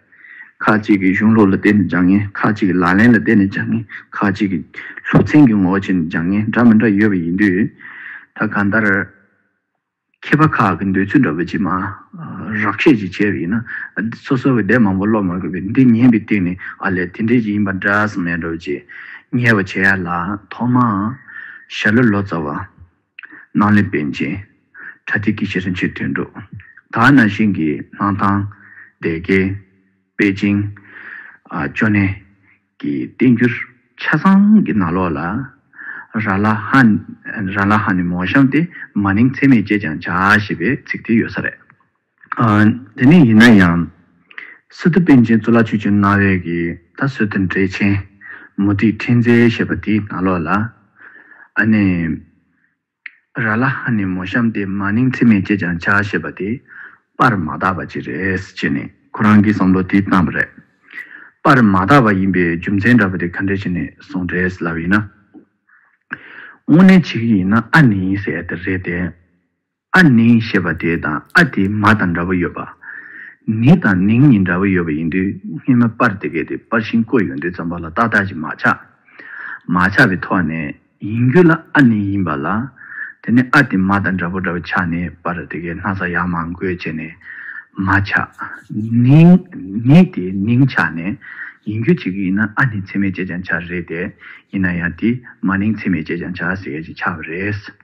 ཁ་ཅིག་གིས་གཞུང་ལུགས་ལ་བརྟེན་ནས་སྦྱང་ངེས་ཁ་ཅིག་གིས་ལག་ལེན་ལ་བརྟེན་ནས་སྦྱང་ངེས་ཁ་ཅིག་གིས་ལྷུག་ཚན་གྱི་ངོ་བོ་ཕྱེ་ནས་སྦྱང་ངེས་འདྲ་མི་འདྲ་ཡོད་པ་ཡིན་དུས། ད་གང་ལྟར། མཁས་པ་ཁག་གི་འདོད་ཚུལ་འདྲ་བོ་ཅིག་མ་རག་བཤད་ཅིག་བྱས་པ་ཡིན་ན། སོ་སོ་གི་སྡེ་མང་པོ་ཀློག་མ་དགོས་པས་འདི་ཉན་པའི་སྟེང་ནས་ཨ་ལས་དེ་འདྲའི་ཅིག་ཡིན་པ་འདྲ་ས་མེད་འགྲོ་བ་ཅིག་ངེས་པ་བྱས་ཡ་ལ་ཐོག་མར་ཞྭ་ལུ་ལོ་ཙཱ་བ། སྣང་ལས་པཎ་ཆེན། ཁྲ་ཐིག་གི་ཤེར་ཕྱིན་ཆོས་སྟོན་གྲུབ་མཐའ་ན་ཤིང་གི་སྣང་ཐང། སྡེ་དགེ། པེ་ཅིང། ཅོ་ནེ། གི་བསྟན་འགྱུར། ཆ་ཚང་གི་ནང་ལོགས་ལ། ར་ལ་ཧ། ར་ལ་ཧ་ནི་མོ་གཤམ་སྟེ་མ་ནིང་ཚད་མེད་ཅེས་ཀྱང་བྱ་ཞེས་པའི་ཚིག་དེ་ཡོད་ས་རེད། དེ་ནས་ཡིན་ན་ཡང། སི་ཏུ་པཎ་ཆེན་གཙུག་ལག་ཆོས་ཀྱི་གནའ་བོའི་གི་ད་གཟོད་དུ་འགྲེལ་ཆེན་མུ་ཏིག་ཕྲེང་མཛེས་ཞེས་པ་དེའི་ནང་ལོགས་ལ། ཨ་ནི། ར་ལ་ཧ་ནི་མོ་བཤམས་ཏེ་མ་ནིང་ཚིག་མེད་ཅེས་ཀྱང་བྱ་ཞེས་པ་དེ་པར་མ་དག་པ་ཅིག་རེད་ཅེས་ནས་ཁོ་རང་གིས་བསམ་བློ་དེ་བཏང་བ་རེད། པར་མ་དག་པ་ཡིན་པའི་རྒྱུ་མཚན་འདྲ་པོ་དེ་ག་འདྲས་བྱས་ནས་གསུངས་རེད་ཟེར་ལབ་ཡིན་ན། དངོས་གནས་བྱེད་ཀྱི་ཡིན་ན་ཨ་ནི་ཟེར་ཡ་དེ་རེད་དེ། ཨ་ནི་ཞེས་པ་དེ་དང་ཨ་དེ་མ་དང་འདྲ་བོ་ཡོད་པ། ནི་དང་ནིང་གཉིས་འདྲ་བོ་ཡོད་པ་ཡིན་དུས་སྔས་མ་པར་དེ་གས་དེ་པར་ཤིང་བརྐོས་ཡོང་དུས་ཙམ་པ་ལ་ཏག་ཏག་ཅིག་མ་ཆགས། མ་ཆགས་པའི་ཐོག་ནས་ཡིན་རྒྱུ་ལ་ཨ་ནི་ཡིན་པ་ལ། དེ་ནས་ཨ་དེ་མ་དང་འདྲ་བོ་འདྲ་བོ་ཆགས་ནས་པར་དེ་གས་སྣག་ཚ་ཡག་མང་བརྐོས་བྱས་ནས་མ་ཆགས། ནིང། ནི་དེ་ནིང་ཆགས་ནས་ཡིན་རྒྱུ་ཅིག་ཡིན་ན་ཨ་ནི་ཚེག་མེད་ཅེས་ཀྱང་བྱ་རེད་དེ། ཡིན་ན་ཡང་དེ་མ་ནིང་ཚེག་མེད་ཅེས་ཀྱང་བྱ་ཟེར་ཡས་ཅིག་ཆགས་པ་རེད།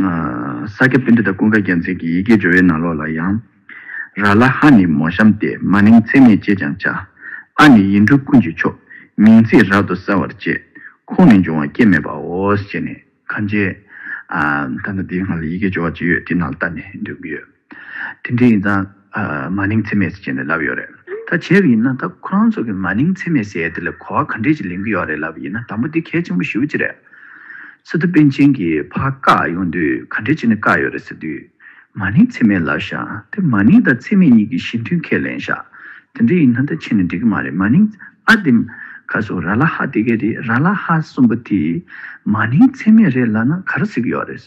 ས་སྐྱ་པཎྜི་ཏཱ་ཀུན་དགའ་རྒྱལ་མཚན་གྱི་ཡི་གེའི་སྦྱོར་བའི་ནང་ལོགས་ལ་ཡང། ར་ལ་ཧ་ནི་མོ་གཤམ་སྟེ་མ་ནིང་ཚད་མེད་ཅེས་ཀྱང་བྱ། ཨ་ནི་ཡིད་འཕྲུལ་ཀུན་གྱི་མཆོག། མིང་ཚིག་རབ་ཏུ་གསལ་བར་བཅས། ཁོང་ནི་འབྱུང་བ་སྐྱེ་མེད་པའོ་ཞེས་ནི། གང་བྱེད། ད་ནི་འདིའི་སྔར་ལ་ཡི་གེའི་སྦྱོར་བ་ཅི་ཡོད་དེ་རྣམས་བལྟ་ནས་འདོན་གྱི་ཡོད། དེ་འདྲས་ཡིན་ཙང། མ་ནིང་འཚེ་མེད་ཟེར་གྱི་ནས་ལབ་ཡོད་རེད། ད་བྱས་པ་ཡིན་ན་ད་ཁོ་རང་ཚོ་གི་མ་ནིང་འཚེ་མེད་ཟེར་ཡས་དེ་ལ་གོ་བ་ག་འདྲས་ཀྱི་ལེན་གྱི་ཡོད་རེད་ལབ་པ་ཡིན་ན་དང་པོ་དེ་གལ་ཆེན་པོ་ཞུ་གྱི་རེད། སི་ཏུ་པན་ཆེན་གྱི་ཕ་བཀག་ཡོང་དུས་ག་འདྲས་ཀྱི་ནས་བཀག་ཡོད་རེད་ཟེར་དུས། མ་ནིང་འཚེ་མེད་ལབ་ཤག་དེ་མ་ནིང་དང་འཚེ་མེད་གཉིས་ཀྱི་གཞི་མཐུན་ཁས་ལེན་ཤག་དེ་འདྲས་ཡིན་ན་ད་ཕྱིན་ནས་འགྲིག་གི་མ་རེད་མ་ནིང་ཨ་དེ། ཁ་སོ་ར་ལ་ཧ་དེ་གས་དེ་ར་ལ་ཧ་གསུམ་པོ་དེ། མ་ནིང་འཚེ་མེད་རེད་ལབ་ན་ག་ར་ཟེར་གྱི་ཡོད་རེད།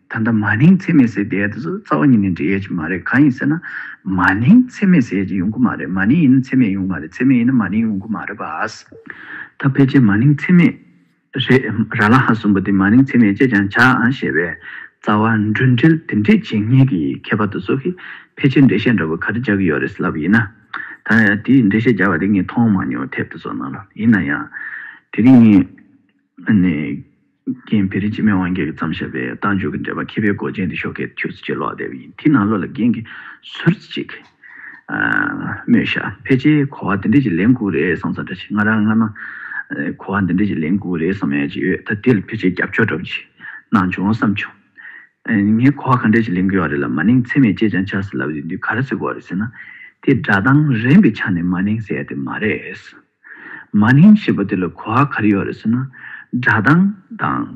ད་ལྟ་མ་ནིང་འཚེ་མེད་ཟེར་བསྡད་དུས་སུ་རྩ་བ་ཉིད་ནས་འབྲེལ་ཡོད་ཅིག་མ་རེད་གང་ཡིན་ཟེར་ན། མ་ནིང་འཚེ་མེད་ཟེར་ཡོད་ཅིག་ཡོང་གི་མ་རེད་མ་ནིང་ཡིན་ན་འཚེ་མེད་ཡོང་གི་མ་རེད་འཚེ་མེད་ཡིན་ན་མ་ནིང་ཡོང་གི་མ་རེད་བཱས། ད་ཕལ་ཆེར་མ་ནིང་འཚེ་མེད་རེད། ར་ལ་ཧ་གསུམ་པོ་དེ་མ་ནིང་འཚེ་མེད་ཅེས་ཀྱང་བྱ་ཨང་ཞེས་པའི་རྩ་བ་འགྲུལ་འགྲིལ་དེ་འདྲས་བྱེད་ངེས་ཀྱི་ཁྱད་པར་དུ་སོ་ཁི་ཕལ་ཆེར་འགྲེལ་བཤད་འདྲ་བོ་ག་རེ་རྒྱག་གི་ཡོད་རེད་ལབ་ཡིན་ན། ད་དེའི་འགྲེལ་བཤད་རྒྱག་པ་དེ་ངས་མཐོང་མ་མྱོང་ཐེབས་དུ་སོང་ན་ལོ་ཡིན་ན་ཡང། དེ་རིང་ངས། རྒན་བེ་རི་སྤྱི་མེས་དབང་རྒྱལ་གྱིས་བརྩམས་ཞབས་པའི་རྟ་མཇུག་གི་འགྲེལ་པ་མཁས་པའི་མགོ་ཅན་དེ་ཤོག་ཁའི་ཐུགས་རྩེ་གཅིག་ལོག་བསྡད་པ་ཡིན་དེས་ན་བློ་ལ་རྒན་གྱི་ཟུར་ཅིག་སྨྲོས་ཤག་ཕལ་ཆེར་གོ་བ་འདི་འདྲས་ཀྱི་ལན་དགུ་རེད་བསམ་ས་འདྲ་ཆེ་ང་རང་སྔ་མ་གོ་བ་འདི་འདྲས་ཀྱི་ལན་དགུ་རེད་བསམ་ཡ་ཅིག་ཡོད་ད་དེ་ལ་ཕལ་ཆེར་རྒྱབ་སྐྱོར་འདྲ་པོ་ཅིག་གནང་བྱུང་བསམ་བྱུང། ངས་གོ་བ་གང་འདྲས་ཀྱི་ལན་དགུ་ཡོད་རེད་ལབ་མ་ནིང་ཚེ་མེད་ཅེས་ཀྱང་བྱ་ཟེར་ལབ་ཡོད་དུས་ག་རེ་ཟེར་དགོས་རེད་ཟེར་ན་དེ་སྒྲ་གདངས་རན་པའི་ཆ་ནས་མ་ནིང་ཟེར་ཡ་དེ་མ་རེད། མ་ནིང་ཞེས་པ་དེ་ལ་གོ་བ་ག་རེ་ཡོད་རེད་ཟེར་ན། སྒྲ་གདངས་དང།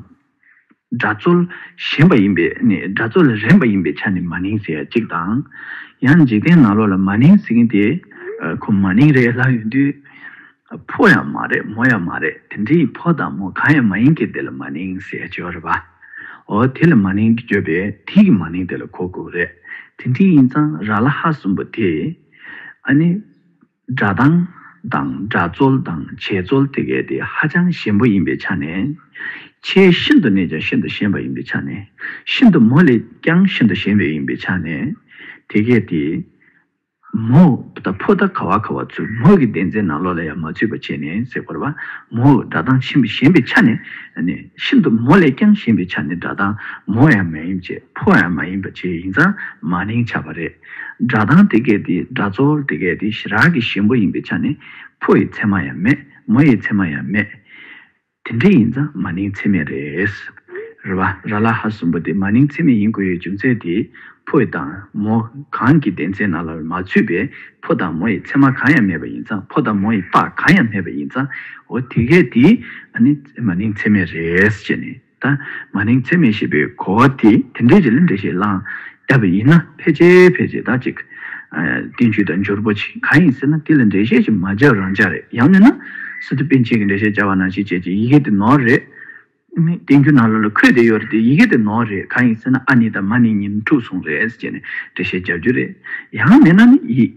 སྒྲ་རྩོལ་གཞན་པ་ཡིན་པས་ནི་སྒྲ་རྩོལ་ལ་རན་པ་ཡིན་པའི་ཆ་ནས་མ་ནིང་ཟེར་ཡ་གཅིག་དང། ཡང་འཇིག་རྟེན་ནང་ལོགས་ལ་མ་ནིང་ཟེར་མཁན་དེ་ཁོ་མ་ནིང་རེད་ལབ་ཡོང་དུས། ཕོ་ཡང་མ་རེད་མོ་ཡང་མ་རེད་དེ་འདྲའི་ཕོ་དང་མོ་གང་ཡང་མ་ཡིན་མཁན་དེ་ལ་མ་ནིང་ཟེར་ཡ་བརྗོད་རེད་པ། འོ་དེ་ལ་མ་ནིང་བརྗོད་པས་དེ་གི་མ་ནིང་དེ་ལ་གོ་དགོས་རེད་དེ་འདྲའི་ཡིན་ཙང་ར་ལ་ཧ་གསུངས་པ་དེ། ཨ་ནི། སྒྲ་གདངས་དང་སྒྲ་རྩོལ་དང་བྱེད་རྩོལ་དེ་གའི་དེ་ཧ་ཅང་ཞན་པོ་ཡིན་པའི་ཆ་ནས། ཆེས་ཤིན་ཏུ་ནས་ཀྱང་ཤིན་ཏུ་ཞན་པ་ཡིན་པའི་ཆ་ནས། ཤིན་ཏུ་མོ་ལས་ཀྱང་ཤིན་ཏུ་ཞན་པའི་ཡིན་པའི་ཆ་ནས། དེ་གའི་དེ། མོ། ད་ཕོ་ད་ག་བ་ག་བ་ཚུལ་མོ་གི་བདེན་རྫས་རྣམས་བློ་ལ་ཡང་མ་ཚུད་པ་བྱས་ནས་གཟིགས་པར་བ། མོ། སྒྲ་གདངས་ཆེན་པོ་ཞན་པའི་ཆ་ནས། ནས། ཤིན་ཏུ་མོ་ལས་ཀྱང་ཞན་པའི་ཆ་ནས་སྒྲ་གདངས་མོ་ཡང་མ་ཡིན་བྱེད་ཕོ་ཡང་མ་ཡིན་པ་བྱས་ཡིན་ཙང་མ་ནིང་ཆ་བ་རེད། སྒྲ་གདངས་དེ་སྐད་དེ་སྒྲ་རྩོལ་དེ་སྐད་དེ་ཞི་རགས་ཀྱི་ཞེན་པོ་ཡིན་པའི་ཆ་ནས་ཕོ་ཡི་མཚན་མ་ཡང་མེད་མོ་ཡི་མཚན་མ་ཡང་མེད། དེ་འདྲ་ཡིན་ཙང་མ་ནིང་ཚད་མེད་རེད། རེ་བ། ར་ལ་ཧ་གསུམ་པོ་དེ་མ་ནིང་ཚད་མེད་ཡིན་དགོས་ཡོད་རྒྱུ་མཚན་དེ་ཕོ་ཡི་དང་མོ་གང་གི་བདེན་ཚད་ནང་ལ་མ་ཚུད་པས་ཕོ་དང་མོ་ཡི་མཚན་མ་གང་ཡང་མེད་པ་ཡིན་ཙང་ཕོ་དང་མོ་ཡི་རྟགས་གང་ཡང་མེད་པ་ཡིན་ཙང་འོ་དེ་སྐད་དེ་ནི་མ་ནིང་ཚད་མེད་རེད་ཅེས་ནི། ད་མ་ནིང་འཚེ་མེད་ཞེས་པའི་གོ་བ་དེ་དེ་འདྲའི་རི་ལ་འདྲེ་ཞིག་བསླངས་ཡ་བ་ཡིན་ན་ཕལ་ཆེ་ཕལ་ཆེ་དག་ཅིག་བསྟན་བཅོས་དང་འབྱོར་པོ་ཆེ་གང་ཡིན་ཟེར་ན་དེ་ལ་འགྲེལ་བཤད་ཅིག་མ་བརྒྱབ་རང་འཇགས་རེད་ཡང་མིན་ན་སི་ཏུ་པིན་ཆེན་གྱི་འགྲེལ་བཤད་བྱ་བ་ནང་བཞིན་བྱས་ཀྱི་ཡི་གེ་དེ་ནོར་རེད། བསྟན་རྒྱུན་ནང་ལོ་ལ་འཁོད་བསྡད་ཡོད་རེད་དེ་ཡི་གེ་དེ་ནོར་རེད་གང་ཡིན་ཟེར་ན་ཨ་ནི་དང་མ་ནི་ཉིན་དྲུག་སོང་རེད་ཅེས་ནས་འགྲེལ་བཤད་རྒྱག་རྒྱུ་རེད་ཡང་མིན་ན་ནི་ཡིད།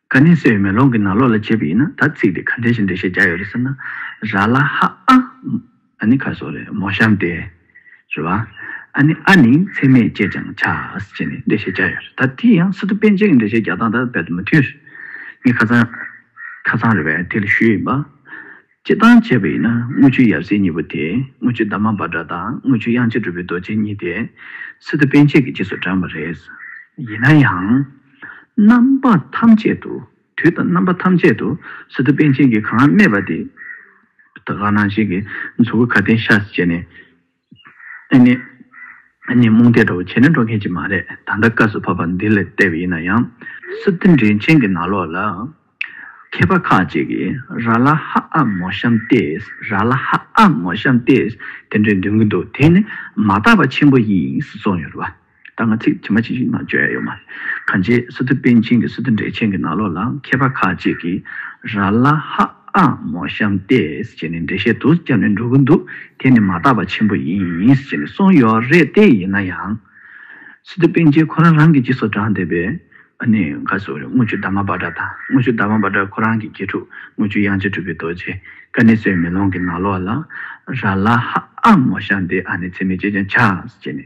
ག་ནི་སེ་བའི་མེ་ལོང་གི་ནང་ལོགས་ལ་བྱས་པ་ཡིན་ན་ད་ཚིག་དེ་ག་འདྲའི་ཞིང་འདྲ་ཞེས་བྱ་ཡོད་རེད་ཟེར་ན། ར་ལ་ཧ་ཨ། ཨ་ནི་ཁ་སོགས་རེད་མོ་ཤམ་ཏེ། རེད་བ། ཨ་ནི་ཨ་ནི་ཚད་མས་བཅད་ཅིང་བྱ། ཅེས་ནི་འདྲ་ཞེས་བྱ་ཡོད་རེད་ད་དེ་ཡང་སི་ཏུ་པན་ཅན་གྱི་འདྲ་ཞེས་བྱ་སྟངས་དང་རྦད་དུ་མི་མཐུན། ངས་ཁ་ཚང། ཁ་ཚང་རེད་བས་དེ་ལ་ཞུས་ཡིན་པ། ཅེས་དང་བཅས་པ་ཡིན་ན་དངུལ་ཆུའི་ཡབ་སྲས་གཉིས་པོ་དེས་དངུལ་ཆུ་འདབ་མ་འབར་འདྲ་དང་དངུལ་ཆུ་དབྱངས་ཅན་གྲུབ་པའི་རྡོ་རྗེ་གཉིས་དེ་སི་ཏུ་པཎ་ཆེན་གྱི་རྗེས་སུ་འབྲངས་པ་རེད། ཡིན་ན་ཡང། རྣམ་པ་ཐམས་ཅད་དུ་དུས་དང་རྣམ་པ་ཐམས་ཅད་དུ་སི་ཏུ་པཎ་ཆེན་གྱིས་གང་སྨྲས་པ་དེ། ད་ག་ནང་བཞིན་གྱི་མཚོ་ཁུ་ཁ་ཏན་ཤ་ཟ་བྱས་ནས། ཨེ་ནི། ངས་རྨོངས་དད་འདྲ་བོ་བྱས་ན་འགྲོ་མཁན་ཅིག་མ་རེད་ད་ལྟ་བཀའ་ཟུར་བྷ་བྷ་འདི་ལ་བལྟས་པ་ཡིན་ན་ཡང། སི་ཏི་འདྲེན་ཆེན་གྱི་ནག་ལོག་ལ། མཁས་པ་ཁག་ཅིག་གིས་ར་ལ་ཧ་ཨ་མོ་ཤམ་ཏེས་ར་ལ་ཧ་ཨ་མོ་ཤམ་ཏེས་དེ་འདྲས་འདོན་གྱི་འདུག་དེ་ནི་མ་དག་པ་ཆེན་པོ་ཡིན་ཟེར་སོང་ཡོད་རེད་བ། ད་ང་ཚིག་ཇི་མ་ཇི་བཞིན་ངང་བརྗོད་ཡོད་མ་རེད། གང་ཅེས་སི་ཏུ་པན་ཆིན་གྱི་སི་ཏུ་འགྲེལ་ཆེན་གྱི་ནང་ལོགས་ལ་མཁས་པ་ཁག་ཅིག་གིས་ར་ལ་ཧ་ཨ་མོ་བཤམས་ཏེ་ཅེས་ནི་འགྲེལ་བཤད་དུ་སྐྱབས་ནས་འགྲོ་གི་འདུག་དེ་ནི་མ་དག་པ་ཆེན་པོ་ཡིན་ཅེས་ནི་གསུངས་ཡོད་རེད་དེ་ཡིན་ན་ཡང། སི་ཏུ་པན་ཆིན་ཁོ་རང་རང་གིས་ཅི་སོགས་བགྲངས་བསྡད་པས་ནི་ག་ཟུག་རེད་དངུལ་ཆུ་ཟླ་མ་འབར་འདྲ་དང་དངུལ་ཆུ་ཟླ་མ་འབར་འདྲ་ཁོ་རང་གི་དགེ་ཕྲུག་དངུལ་ཆུ་དབྱངས་ཅན་གྲུབ་པའི་རྡོ་རྗེ་ཀ་ནི་སོའི་མེ་ལོང་གི་ནང་ལོགས་ལ་ར་ལ་ཧ་ཨ་མོ་བཤམས་ཏེ་ཨ་ནི་ཚེ་མེད་ཅེས་ཀྱང་བྱ་ཅེས་ནི།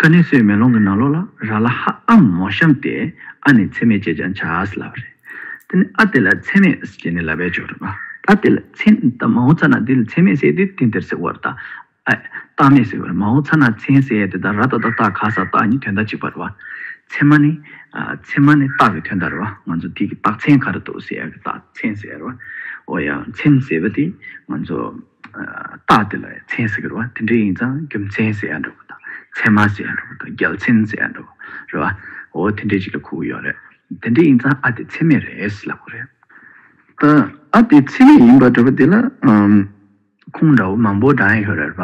ཀ་ནས་སོའི་མེ་ལོང་གི་ནང་ལོགས་ལ་ར་ལ་ཧ་ཨ་མོ་བཤམས་ཏེ་ཨ་ནི་ཚད་མེད་ཅེས་ཀྱང་བྱ། ལ་བ་རེད། དེ་ནི་ཨ་དེ་ལ་ཚད་མེད་ཅེས་ནི་ལ་བས་བརྗོད་རོགས་གནང། ཨ་དེ་ལ་ཚད་མེད་ད་མ་འོངས་ཚ་ན་དེ་ལ་ཚད་མེད་ཟེར་དུས་དེ་འདིར་ཟེར་བར་ད་ཨ་ཨེ། རྟགས་མེད་ཟེར་བར་མ་འོངས་ཚ་ན་ཚན་ཟེར་དེ་ད་ར་ད་ད་རྟགས་ག་ས་རྟགས་གཉིས་དོན་དག་གཅིག་པ་ར་བ། ཚད་མ་ནི། ཚད་མ་ནི་རྟགས་ཀྱི་དོན་དག་ར་བ་ང་ཚོ་དེ་གི་རྟགས་ཚན་ག་ར་འདུག་ཟེར་ཡག་གི་རྟགས་ཚན་ཟེར་བ། ཨོ་ཡག་ཚན་ཟེར་བ་དེ་ང་ཚོ། རྟགས་དེ་ལ་མཚན་ཟེར་གི་རེད་བ། དེ་འདྲ་ཡིན་ཙང་རྒྱུ་མཚན་ཟེར་ཡ་འདྲ་བོ་དང། མཚན་མ་ཟེར་ཡ་འདྲ་བོ་དང་རྒྱལ་མཚན་ཟེར་ཡ་འདྲ་བོ་རེད་བ། འོ་དེ་འདྲས་ཅིག་ལ་ཁུག་གི་ཡོད་རེད། དེ་འདྲས་ཡིན་ཙང་ཨ་དེ་མཚན་མེད་རེད་ལབ་གི་རེད། ད་ཨ་དེ་མཚན་མེད་ཡིན་པ་འདྲ་བོ་དེ་ལ་ཁུངས་འདྲ་བོ་མང་པོ་བགྲང་ཡ་ཡོད་རེད་བ།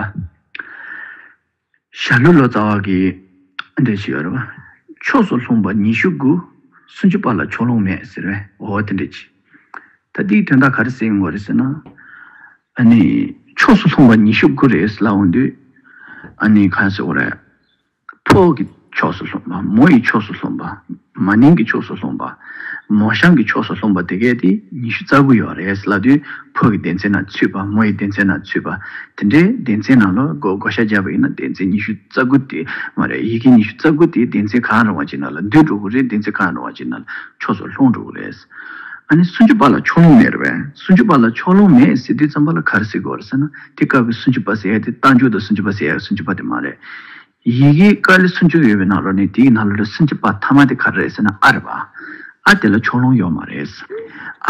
ཞྭ་ལུ་ལོ་ཙཱ་བ་གིས་ཨ་འདྲེ་བྱེད་རོ། ཕྱོགས་སུ་ལྷུང་བ་ཉི་ཤུ་དགུ། སུམ་ཅུ་པ་ལ་ཕྱོགས་ལྷུང་མེད་ཟེར་བས་འོ་དེ་འདྲས་བྱས། ད་འདིའི་དོན་དག་ག་རེ་སེམས་ངོ་རེ་ཟེར་ན། ཨ་ནི། ཕྱོགས་སུ་ལྷུང་བ་ཉི་ཤུ་དགུ་རེད་ཟེར་ལ་འོ་འདི་ཨ་ནི་ག་ཟེར་བ་རེད། ཕོག་གི། ཕྱོགས་སུ་ལྷུང་བ། མོ་ཡི་ཕྱོགས་སུ་ལྷུང་བ། མ་ནིང་གི་ཕྱོགས་སུ་ལྷུང་བ། མོ་ཤང་གི་ཕྱོགས་སུ་ལྷུང་བ་དེ་གའི་དེ་ཉི་ཤུ་རྩ་དགུ་ཡོད་རེད་བསླ་དུས་ཕོ་གི་སྡེ་ཚན་ན་ཚུད་པ་མོ་ཡི་སྡེ་ཚན་ན་ཚུད་པ་དེ་འདྲའི་སྡེ་ཚན་ནང་ལོ་གོ་བགོ་བཤའ་རྒྱབ་པ་ཡིན་ན་སྡེ་ཚན་ཉི་ཤུ་རྩ་དགུ་དེ་མ་རེད་ཡི་གེ་ཉི་ཤུ་རྩ་དགུ་དེ་སྡེ་ཚན་གང་རུང་བ་ཅིག་ན་ལ་འདུས་འགྲོ་གི་རེད་སྡེ་ཚན་གང་རུང་བ་ཅིག་ན་ལ་ཕྱོགས་སུ་ལྷུང་འགྲོ་གི་རེད། ཨ་ནི་སུན་ཅུ་པ་ལ་ཕྱོགས་ལྷུང་མེད་རེད་བས་སུན་ཅུ་པ་ལ་ཕྱོགས་ལྷུང་མེད་ཟེར་དུས་རྩམ་པ་ལ་གར་ཟེར་དགོས་རེད་ཟེར་ན་དེ་སྐབས་ཀྱི་སུན་ཅུ་པ་ཟེར་ཡ་དེ་རྟ་མཇུག་དང་སུན་ཅུ་པ་ཟེར་ཡ་གི་སུན་ཅུ་པ་དེ་མ་རེད། ཡི་གེ་ཀ་ལི་སུམ་ཅུ་ཡོད་པའི་ནང་ལོ་ནི་དེའི་ནང་ལོ་ལོ་སུམ་ཅུ་པ་ཐ་མ་དེ་ག་རེ་རེད་ཟེར་ན་ཨ་རེད་པ། ཨ་དེ་ལ་ཕྱོགས་ལྷུང་ཡོད་མ་རེད།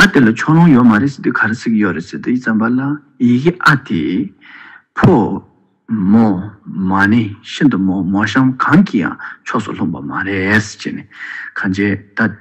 ཨ་དེ་ལ་ཕྱོགས་ལྷུང་ཡོད་མ་རེད་ཟེར་དུས་ག་རེ་ཟིག་ཡོད་རེད་ཟེར་དུས་བརྩམས་པ་ལ་ཡི་གེ་ཨ་དེ། ཕོ། མོ། མ་ནི་ཤིན་ཏུ་མོ་མོ་གཤམ་གང་གི་ཡང་ཕྱོགས་སུ་ལྷུང་པ་མ་རེད། ཅེས་ནས་གང་བྱས་ད།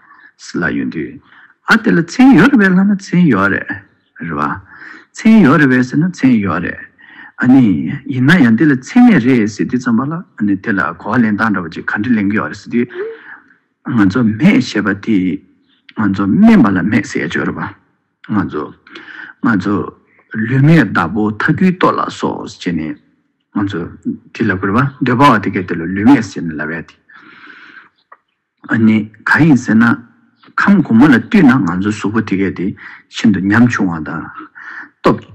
ལ་ཡོད་དུས། ཨ་དེ་ལ་མཚན་ཡོད་རེད་བས་ལྷ་ན་མཚན་ཡོད་རེད། རེད་བ། མཚན་ཡོད་རེད་བས་ཟེར་ན་མཚན་ཡོད་རེད། ཨ་ནི། ཡིན་ན་ཡང་འདི་ལ་མཚན་མེད་རེད་ཟེར་དུས་ཙམ་པ་ལ་ཨ་ནི་དེ་ལ་གོ་བ་ལེན་སྟངས་འདྲ་བ་ཅིག་ག་འདྲ་ལེན་གི་ཡོད་རེད་ཟེར་དུས། ང་ཚོ་མེད་ཞེས་པ་དེ། ང་ཚོ་དམན་པ་ལ་མེད་ཟེར་ཡ་ཆོས་རེད་བ། ང་ཚོ། ང་ཚོ། ལུས་མེད་བདག་པོ་ཐ་གུའི་ལྟོ་ལ་སོགས་ཅེས་ནས། ང་ཚོ། དེ་ལ་གུས་པ་འདོད་པ་བ་དེ་གས་དེ་ལ་ལུས་མེད་ཟེར་ནས་ལབ་ཡ་དེ། ཨ་ནི་ག་ཡིན་ཟེར་ན། ཁམས་དགུ་མ་ལ་བཏུད་ན་ང་ཚོའི་གཟུགས་པོ་དེ་གས་དེ་ཤིན་ཏུ་ཉམ་ཆུང་བ་དང། སྟོབས།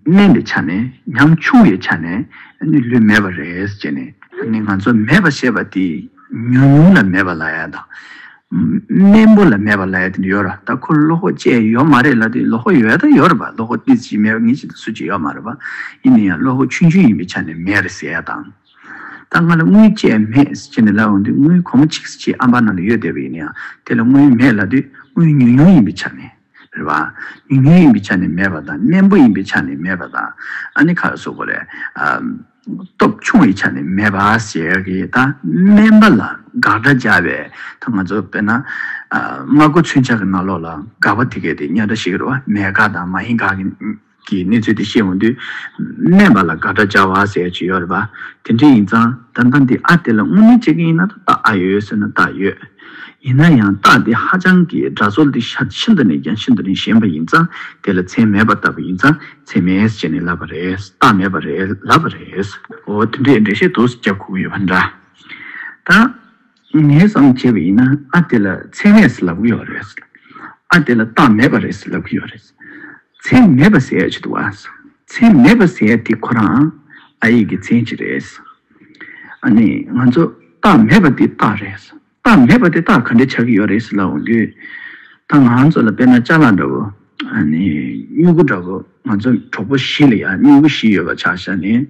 དམན་པའི་ཆ་ནས་ཉམ་ཆུང་བའི་ཆ་ནས་ནི་ལུས་མེད་པ་རེད་ཅེས་ནས། ཨ་ནི་ང་ཚོ་མེད་པ་ཞེས་པ་དེ་ཉུང་ཉུང་ལ་མེད་པ་ལ་ཡ་དང། དམན་པོ་ལ་མེད་པ་ལ་ཡ་དེ་ཡོད་ར་ད་ཁོ་ལོ་ཧོ་བཅས་ཡོད་མ་རེད་ལ་དེ་ལོ་ཧོ་ཡོད་ད་ཡོད་ར་པ་ལོ་ཧོ་འདི་ཅིག་མེད་པ་ངེད་ཅིག་ད་སུ་ཅིག་ཡོད་མ་རེད་པ། ཡིན་ན་ཡང་ལོ་ཧོ་ཆུང་ཆུང་ཡིན་པའི་ཆ་ནས་མེད་རེད་ཟེར་ཡ་དང། ད་ང་ལ་དངུལ་བཅས་མེད་ཅེས་ནས་ལབ་འོང་དུས་དངུལ་གོང་མ་ཆིག་ཅེས་ཨམ་བ་ནང་དུ་ཡོད་བསྡད་པ་ཡིན་ན་ཡང་དེ་ལ་དངུལ་མེད་ལབ་དུས་དངུལ་ཉུང་ཉུང་ཡིན་པའི་ཆ་ནས་རེད་བ། ཉུང་ཉུང་ཡིན་པའི་ཆ་ནས་མེད་པ་དང་དམན་པོ་ཡིན་པའི་ཆ་ནས་མེད་པ་དང་ཨ་ནི་ཁ་གསོ་བ་རེད། སྟོབས་ཆུང་བའི་ཆ་ནས་མེད་པ་ཞེས་གི་ད་དམན་པ་ལ་དགག་སྒྲ་བརྒྱབ་པས་ད་ང་ཚོ་དཔེར་ན་སྨྲ་སྒོ་ཚུན་ཆགས་ཀྱི་ནང་ལོགས་ལ་དགག་པ་དེ་གས་དེ་སྙན་སྒྲ་ཞིག་རེད་བ་མེད་དགག་དང་མ་ཡིན་དགག་གི། གྱི་གནས་ཚུལ་དེ་ཤེས་འོང་དུས། སྨན་པ་ལ་དགའ་སྤྲ་བྱ་བ་ཟེར་ཡ་ཅི་ཡོད་རེད་པ། དེ་འདྲས་ཡིན་ཙང་ད་ལྟ་འདི་ཨ་དེ་ལ་དངོས་གནས་ཅི་གི་ཡིན་ན་ད་རྟགས་ཨ་ཡོད་ཡོད་ཟེར་ན་རྟགས་ཡོད། ཡིན་ན་ཡང་རྟགས་དེ་ཧ་ཅང་གི་འདྲ་བཟོ་འདི་ཤ་ཤིན་ཏུ་ནས་ཀྱང་ཤིན་ཏུ་ནས་ཞན་པ་ཡིན་ཙང་དེ་ལ་མཚན་མེད་པ་ལྟ་བུ་ཡིན་ཙང་མཚན་མེད་ཅེས་ནས་ལབ་པ་རེད་རྟགས་མེད་པ་རེད་ལབ་པ་རེད། འོ་དེ་འདྲས་འགྲེལ་བཤད་དུ་རྒྱབ་ཁུག་ཡོད་པ་འདྲ། ད། ངས་སང་བྱས་པ་ཡིན་ན་ཨ་དེ་ལ་མཚན་མེད་ཟེར་ལབ་གི་ཡོད་རེད་ཟེར། ཨ་དེ་ལ་རྟགས་མེད་པ་རེད་ཟེར་ལབ་གི་ཡོད་རེད། མཚན་མེད་པ་ཟེར་ཡ་ཆེད་དུ་བ། མཚན་མེད་པ་ཟེར་ཡ་དེ་ཁོ་རང་ཨ་ཡིག་གི་མཚན་གཅིག་རེད། ཨ་ནི་ང་ཚོ་རྟགས་མེད་པ་དེ་རྟགས་རེད། རྟགས་མེད་པ་དེ་རྟགས་ག་འདྲ་ཆགས་ཀྱི་ཡོད་རེད་ཟེར་ལབ་འོང་དུས། ད་ང་ཚོ་ལ་དཔེར་ན་ལྕགས་ལ་འདྲ་བོ། སྨྱུ་གུ་འདྲ་བོ་ང་ཚོ་གྲོགས་པོ་བཞི་ལ་ཡང་སྨྱུ་གུ་བཞི་ཡོད་པ་ཆ་བཞག་ནས།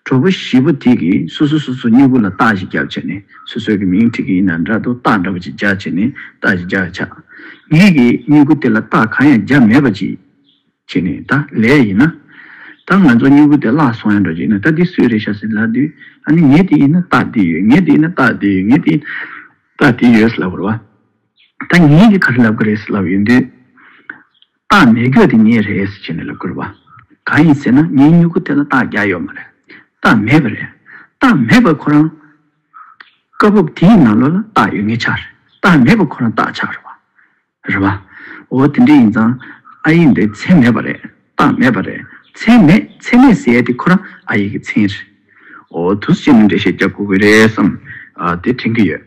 གྲོགས་པོ་བཞི་པོ་དེ་གིས་སོ་སོ་སོ་སོ་སྨྱུ་གུ་ལ་རྟགས་ཤིག་བརྒྱབ་བྱས་ནས་སོ་སོའི་མིང་ཁྲིད་ཀྱི་ཡིན་ན་འདྲ་དུ་རྟགས་འདྲ་པོ་ཅིག་བརྒྱབ་བྱས་ནས་རྟགས་ཤིག་བརྒྱབ་ཆགས། ངེད་ཀྱིས་སྨྱུ་གུ་དེ་ལ་རྟགས་གང་ཡང་བརྒྱབ་མེད་པ་ཅིག་བྱས་ནས་ད་ལས་ཡིན་ན། ད་ང་ཚོ་སྨྱུ་གུ་དེ་བརླག་སོང་ཡང་འགྲོ་རྒྱུ་ཡིན་ན་ད་འདི་སུའི་རེད་ཤག་ཟེར་ལབ་དུས་ཨ་ནི་ངེད་དེ་ཡིན་ན་རྟགས་འདི་ཡོད་ངེད་དེ་ཡིན་ན་རྟགས་དེ་ཡོད་ངེད་དེ་ཡིན་ན་རྟགས་དེ་ཡོད་ཟེར་ལབ་དགོས་རེད་བ། ད་ངེད་ཀྱི་ཁ་ཧྲི་ལབ་ཀི་རེད་ཟེར་ལབ་ཡོད་དུས། སྟག་མེད་གྱོད་དེ་ངེད་རེད་ཟེར་བྱས་ནས་ལབ་ཀི་རུ་བ། གང་ཡིན་ཟེར་ན་ངའི་སྨྱུ་གུ་དེ་ལ་སྟག་རྒྱག་ཡོད་མ་རེད། སྟག་མེད་པ་རེད། སྟག་མེད་པར་ཁོ་རང། བཀའ་སྤོབས་དེ་ཡི་ནང་ལོགས་ལ་སྟག་ཡོད་ངེས་ཆགས་རེད། སྟག་མེད་པར་ཁོ་རང་སྟག་ཆགས་རུ་བ། རེད་བ། འོ་དེ་འདྲ་ཡིན་ཙང། ཨ་ཡེ་འདི་ཚེ་མེད་པ་རེད། རྟགས་མེད་པ་རེད། མཚན་མེད་མཚན་མེད་ཟེར་དེ་ཁོ་རང་ཨ་ཡིག་གི་མཚན་རེད། འོ་དུ་སུ་བྱས་ནས་འགྲེལ་བཤད་རྒྱབ་དགོས་གི་རེད་བསམ། དེ་དྲན་གི་ཡོད།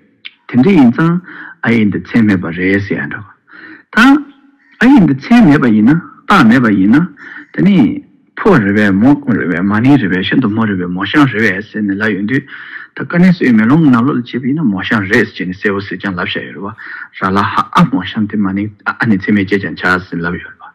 དེ་འདྲ་ཡིན་ཙང་ཨ་ཡིག་འདི་མཚན་མེད་པ་རེད་ཟེར་ཡང་འདྲ་བ་དང། ཨ་ཡིག་འདི་མཚན་མེད་པ་ཡིན་ན་རྟགས་མེད་པ་ཡིན་ན། དེ་ནི་ཕོ་རེ་བས་མོ་རྐུན་རེ་བས་མ་ནིང་རེ་བས་ཤིན་ཏུ་མོ་རེ་བས་མོ་ཤང་རེ་བས་ཟེར་ནས་ལབ་ཡོང་དུས། ད་ཀ་ནེ་སོའི་མེ་ལོང་གི་ནང་ལོག་ལ་བྱས་པ་ཡིན་ན་མོ་ཤང་རེད་ཟེར་ནས་གསལ་བོ་ཟེར་ཀྱང་ལབ་བཞག་ཡོད་རེད་བ་ར་ལ་ཧ་ཨ་མོ་ཤང་དེ་མ་ནིང་ཨ་ནི་མཚན་མེད་ཅེས་ཀྱང་བྱ་ཟེར་ནས་ལབ་ཡོད་རེད་བ།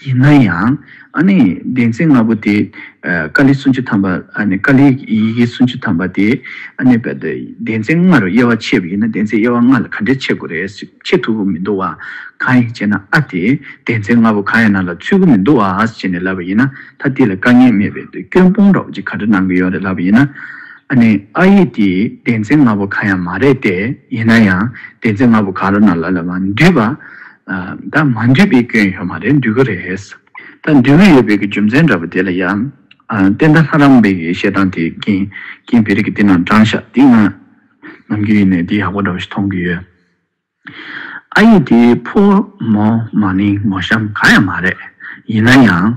ཡིན་ན་ཡང་གདན་ཚིགས་ལྔ་པོ་དེ་ཀཱ་ལི་སུམ་ཅུ་ཐམ་པ་ཀཱ་ལིའི་ཡི་གེ་སུམ་ཅུ་ཐམ་པ་དེ་གདན་ཚིགས་ལྔ་རུ་དབྱེ་བ་ཕྱེ་བ་ཡིན་ན་གདན་ཚིགས་དབྱེ་བ་ལྔ་ལ་ག་འདྲས་ཕྱེ་དགོས་རེད་ཕྱེ་ཐུབ་ཀྱི་མི་འདུག་བ་གང་ཡིན་ཅེ་ན་ཨ་དེ་གདན་ཚིགས་ལྔ་པོ་གང་ཡང་ན་ལ་ཚུད་ཀྱི་མི་འདུག་བ་ཅེ་ནས་ལབ་པ་ཡིན་ན་ད་དེ་ལ་དཀའ་ངལ་མེད་པའི་སྐྱོན་སྤོང་རོགས་ཅེ་ག་འདྲ་གནང་གི་ཡོད་རེད་ལབ་པ་ཡིན་ན་ཨ་ནི་ཨ་ཡིག་དེ་གདན་ཚིགས་ལྔ་པོ་གང་ཡང་མ་རེད་དེ་ཡིན་ན་ཡང་གདན་ཚིགས་ལྔ་པོ་གང་རུ་ན་ལ་ལ་མ་འདུས་པ། ད་མ་འདུས་པའི་སྐྱོན་ཡོད་མ་རེད་འདུས་གི་རེད། ད་འདུས་གི་ཡོད་པའི་རྒྱུ་མཚན་འདྲ་པོ་དེ་ལ་ཡང། བསྟན་དར་ལྷ་རམས་པའི་བཤད་སྟངས་དེ་རྐྱེན་བེ་རི་ཀའི་བསྟན་ནང་དྲངས་ཤག་འདི་ང་ནམ་རྒྱུན་ཡིན་ནས་འདི་ཡག་པོ་འདྲ་པོ་ཞིག་མཐོང་གི་ཡོད། ཨ་ཡེ་འདི་ཕོ་མོ་མ་ནིང་མོ་གཤམ་གང་ཡང་མ་རེད། ཡིན་ན་ཡང།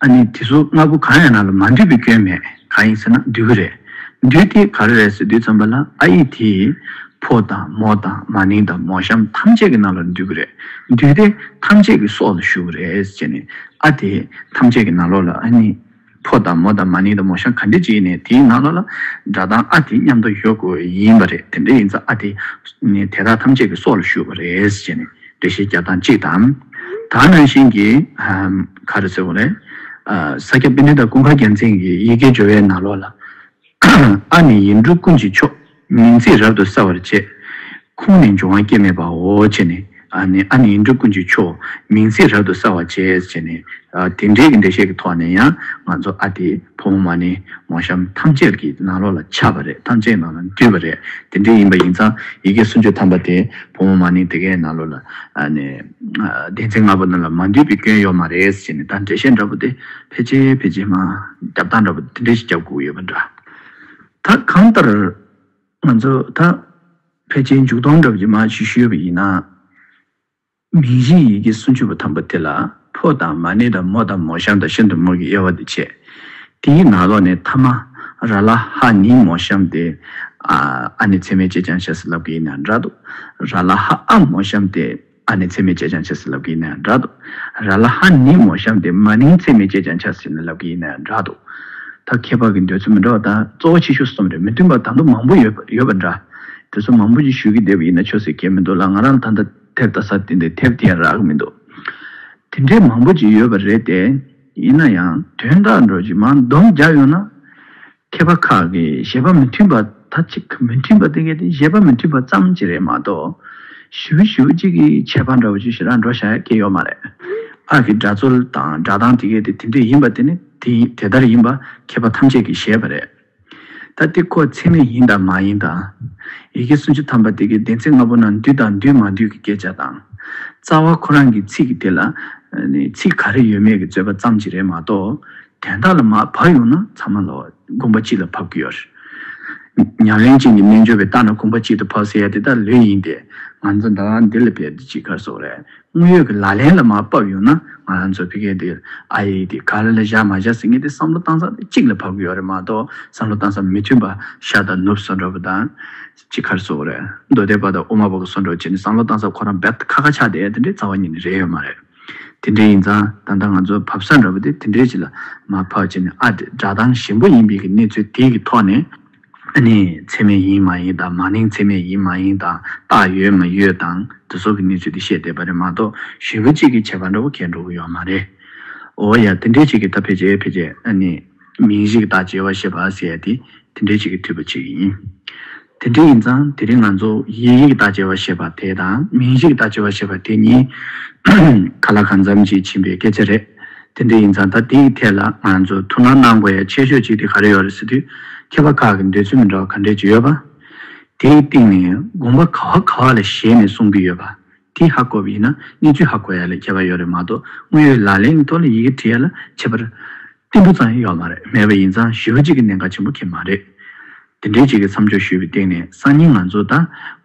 ཨ་ནི་དེ་ཚོ་ལྔ་པོ་གང་ཡང་ན་ལ་མ་འདུས་པའི་སྐྱོན་མེད་གང་ཡིན་ཟེར་ན་འདུས་གི་རེད། འདུས་ཏེ་ག་རེ་རེས་འདུས་ཙམ་པ་ལ་ཨ་ཡིག་དེས་ཕོ་དང་མོ་དང་མ་ནིང་དང་མོ་གཤམ་ཐམས་ཅད་ཀྱི་རྣ་ལོག་ལ་འདུས་ཀྱི་རེད། འདུས་ཏེ་ཐམས་ཅད་ཀྱི་སྲོག་ལ་ཞུགས་ཀྱི་རེད་ཅེས་ནས་ཨ་དེས་ཐམས་ཅད་ཀྱི་རྣ་ལོག་ལ་ཨ་ནི་ཕོ་དང་མོ་དང་མ་ནིང་དང་མོ་གཤམ་ག་འདྲས་ཅིག་ཡིན་ནས་དེའི་རྣ་ལོག་ལ་སྒྲ་གདངས་ཨ་དེ་མཉམ་དུ་ཡོད་དགོས་ཡིན་པ་རེད་དེ་འདྲས་ཡིན་ཙང་ཨ་དེས་དེ་དག་ཐམས་ཅད་ཀྱི་སྲོག་ལ་ཞུགས་པ་རེད་ཅེས་ནས། བདེ་གཤེགས་བརྒྱ་དང་གཅིག་དང། དག་སྣང་ཞིང་གི། ག་རེ་ཟེར་བ་རེད། ས་སྐྱ་པཎྜི་ཏ་ཀུན་དགའ་རྒྱལ་མཚན་གྱི་ཡི་གེའི་སྦྱོར་བའི་ནང་ལོགས་ལ། ཨ་ནི་ཡིག་འབྲུ་ཀུན་གྱི་མཆོག། མིང་ཚིག་རབ་ཏུ་གསལ་བར་བྱེད། ཁུངས་ནི་འབྱུང་བ་སྐྱེ་མེད་པའོ། ཅེས་ནས། ཨ་ནི་ཡིག་འབྲུ་ཀུན་གྱི་མཆོག། མིང་ཚིག་རབ་ཏུ་གསལ་བར་བྱེད། ཅེས་ནས། དེ་འབྲེལ་གྱི་འགྲེལ་བཤད་ཀྱི་ཐོག་ནས་ཡང། ང་ཚོ་ཨ་དེ་ཕོ་མོ་མ་ནི་མོ་གཤམ་ཐམས་ཅད་ཀྱི་ནང་ལོགས་ལ་ཁྱབ་པ་རེད་ཐམས་ཅད་ནང་ལ་འདུས་པ་རེད་དེ་འདྲས་ཡིན་པ་ཡིན་ཙང་ཡི་གེ་སུམ་ཅུ་ཐམ་པ་དེ། ཕོ་མོ་མ་ནིང་དེ་གའི་ནང་ལོ་ལ་བདེན་ཚིག་ལྔ་པོ་རྣམས་ལ་མ་འདུས་པའི་སྐྱོན་ཡོད་མ་རེད་ཅེས་ནས་ད་འགྲེལ་བཤད་འདྲ་པོ་དེ་ཕལ་ཆེ་ཕལ་ཆེ་མང་རྒྱབ་བཏང་འདྲ་པོ་དེ་འདྲས་ཤིག་རྒྱབ་བསྒུགས་ཡོད་པ་འདྲ། ད་གང་ལྟར་ང་ཚོ་ད་ཕལ་ཆེ་མཇུག་སྡོམ་འདྲ་པོ་ཅིག་མ་ཞུས་ཤོས་པ་ཡིན་ན། མིང་གཞི་ཡི་གེ་སུམ་ཅུ་པ་ཐམས་པ་དེ་ལ། ཕོ་དང་མ་ནི་དང་མོ་དང་མོ་གཤམ་དང་ཤིན་ཏུ་མོ་གི་དབྱེ་བ་འདི་འཆད། དེའི་ནང་ལོགས་ནས་ཐ་མ། ར་ལ་ཧ་ནི་མོ་གཤམ་སྟེ། ཨ་ནི་ཚད་མའི་བཅད་བྱང་བྱས་སུ་ལབ་ཀྱི་ཡིན་ན་འདྲ་དོ། ར་ལ་ཧ་ཨ་མོ་གཤམ་སྟེ། ཨ་ནི་ཚད་མའི་བཅད་བྱང་བྱས་སུ་ལབ་ཀྱི་ཡིན་ན་འདྲ་དོ། ར་ལ་ཧ་ནི་མོ་གཤམ་སྟེ་མ་ནི་ཚད་མའི་བཅད་བྱང་བྱས་སུ་ལབ་ཀྱི་ཡིན་ན་འདྲ་དོ། ད་ཁྱད་པར་གྱི་འདོད་ཚུལ་མི་འདྲ་བ་དང་གཙོ་བོ་ཆེ་ཤོས་སུ་སོང་བས་མི་མཐུན་པ་དང་དུ་མང་པོ་ཡོད་པ་འདྲ། དེ་ཚོ་མང་པོ་ཅིག་ཞུས་ཀྱི་བསྡད་པ་ཡིན་ན་ཆོས་སུ་གྱེས་མི་འདུག་ལ་ང་རང་ལ་ད་ལྟ། ཐེབས་དང་ས་བསྟན་ཏེ་ཐེབས་ཀྱིན་རག་མི་འདུག་དེ་འདྲའི་མང་པོ་ཅིག་ཡོད་པ་རེད་དེ། ཡིན་ན་ཡང་དོན་དག་འགྲོ་གཞི་མ་འདོམས་རྒྱག་ཡོང་ན། མཁས་པ་ཁག་གི་བཞེད་པ་མི་མཐུན་པ་ད་ཅིག་མི་མཐུན་པ་དེ་གལ་ཏེ་བཞེད་པ་མི་མཐུན་པ་ཙམ་གྱིས་རེད་མ་གཏོགས། ཞི་བུ་ཞི་བུ་གཅིག་གིས་བྱས་པ་འདྲ་བོ་ཅིག་ཞིག་ལ་འགྲོ་བཞག་གི་ཡོད་མ་རེད། ཨ་ཀི་སྒྲ་རྩོལ་དང་སྒྲ་གདངས་དེ་གལ་ཏེ་དེ་འདྲས་ཡིན་པ་དེ་ནི་དེ་ལྟར་ཡིན་པ་མཁས་པ་ཐམས་ཅད་ཀྱིས་ཤེས་པ་རེད། ད་ལྟའི་ཁོ་ཚད་མེད་ཡིན་དང་མ་ཡིན་དང། ཡི་གེ་སུམ་ཅུ་ཐམ་པ་དེ་གའི་བདེན་ཚིག་ལྔ་པོ་ནང་འདུས་དང་འདུས་མ་འདུས་ཀྱི་སྐད་ཆ་དང། རྩ་བ་ཁོ་རང་གི་ཚིག་དེ་ལ། ཚིག་ག་རེ་ཡོད་མེད་ཀྱི་རྩོད་པ་ཙམ་གྱིས་རེད་མ་གཏོགས། དོན་དག་ལ་མ་བབས་ཡོང་ན་ཚང་མ་ལ་དགོངས་པ་གཅིག་ལ་ཕབ་ཀྱི་ཡོད། ཉམས་ལེན་ཅན་གྱི་རྣལ་འབྱོར་བས་བརྟགས་ན་དགོངས་པ་གཅིག་ཏུ་ཕབ་ཟེར་ཡ་དེ་དག་ལོས་ཡིན་ཏེ། ང་ཚོ་ཟླ་བ་འདི་ལ་ཕེབས་དུས་ཅིག་གར་སོང་བ་རེད། དངོས་ཡོད་ཀྱི་ལག་ལེན་ལ་མ་བབས་ཡོང་ན་ང་རང་ཚོ་ཕི་ཀེ་དེ་ཨ་ཡེ་དེ་ག་ལ་ལ་བཞག་མ་བཞག་ཟེར་མཁན་དེ་བསམ་བློ་གཏང་ས་གཅིག་ལ་བབས་གི་ཡོད་རེད་མ་གཏོགས་བསམ་བློ་གཏང་ས་མི་མཐུན་པ་ཤ་དང་ནུབ་སོ་འདྲ་བོ་དང། ཅི་ཁར་སོ་རེད་མདོ་སྡེ་པ་དང་དབུ་མ་པ་གི་སོ་འདྲ་བོ་བྱས་ནས་བསམ་བློ་གཏང་ས་ཁོ་རང་བེད་ཁ་ཁ་ཆགས་དེ་དེ་འདྲའི་རྩ་བ་ཉིད་ནས་རེད་ཡོད་མ་རེད། དེ་འདྲའི་ཡིན་ཙང་ད་ལྟ་ང་ཚོ་བབས་ས་འདྲ་བོ་དེ་དེ་འདྲའི་ཅིག་ལ་མ་བབས་བྱས་ནས་ཨ་དེ་སྒྲ་གདངས་ཞིམ་པོ་ཡིན་མིན་གྱི་གནས་ཚུལ་དེའི་གི་ཐོག་ནས། ནི་ཚད་མེད་ཡིན་མ་ཡིན་དང་མ་ནིང་ཚད་མེད་ཡིན་མ་ཡིན་དང་རྟགས་ཡོད་མ་ཡོད་དང་དེ་སོགས་ཀྱི་གནས་ཚུལ་དེ་བཤད་བསྡད་པ་རེད་མ་གཏོགས་ཞུས་པ་གཅིག་གིས་བྱས་པ་འདྲ་བོ་ཁས་འགྲོ་གི་ཡོད་མ་རེད། འོ་ཡ་དེ་འདྲའི་གཅིག་གིས་ད་ཕེ་ཅེ་ཕེ་ཅེ་ནི། མིང་གཞིག་བདག་བྱེད་བ་ཞེས་པ་ཟེར་ཏེ་དེ་འདྲའི་གཅིག་གིས་ཐུས་པ་གཅིག་ཡིན། དེ་འདྲ་ཡིན་ཙང་དེ་རིང་ང་ཚོ་ཡིག་གཞིག་བདག་བྱེད་བ་ཞེས་པ་དེ་དང་མིང་གཞིག་བདག་བྱེད་བ་ཞེས་པ་དེ་གཉིས་ག་ལ་གང་འཚམ་གྱིས་ཕྱིན་པའི་སྐད་ཆ་རེད། དེ་འདྲ་ཡིན་ཙང་ད་འདི་ཡི་ཐད་ལ་ང་རང་ཚོ་ཐུགས་སྣང་གནང་དགོས་ཡ་ཆེ་ཤོས་གཅིག་དེ་ག་རེ་ཡོད་རེད་ཟེར་དུས་མཁས་པ་ཁག་གི་འདོད་ཚུལ་མི་འདྲ་བ་ག་འདྲས་ཀྱི་ཡོད་པ། དེའི་སྟེང་ནས་དགོངས་པ་ག་བ་ག་བ་ལ་གཞལ་ནས་གསུང་གི་ཡོད་པ། དེ་ཧ་གོ་བ་ཡིན་ན་གནས་ཚུལ་ཧ་གོ་ཡ་ལས་ཁྱད་པར་ཡོད་རེད་མ་གཏོགས་དངོས་ཡོད་ལག་ལེན་གྱི་ཐོག་ལ་ཡི་གེ་བྲི་ཡ་ལ་ཁྱད་པར་ཏིལ་འབུ་ཙམ་ཡང་ཡོད་མ་རེད་མེད་པ་ཡིན་ཙང་ཞི་བ་གཅིག་གི་གནད་འགག་ཆེན་པོ་ཁེ་མ་རེད། དེ་འདྲའི་གཅིག་གི་མཚམས་འཇོག་ཞུས་པའི་སྟེང་ནས་སང་ཉིན་ང་ཚོ་ད་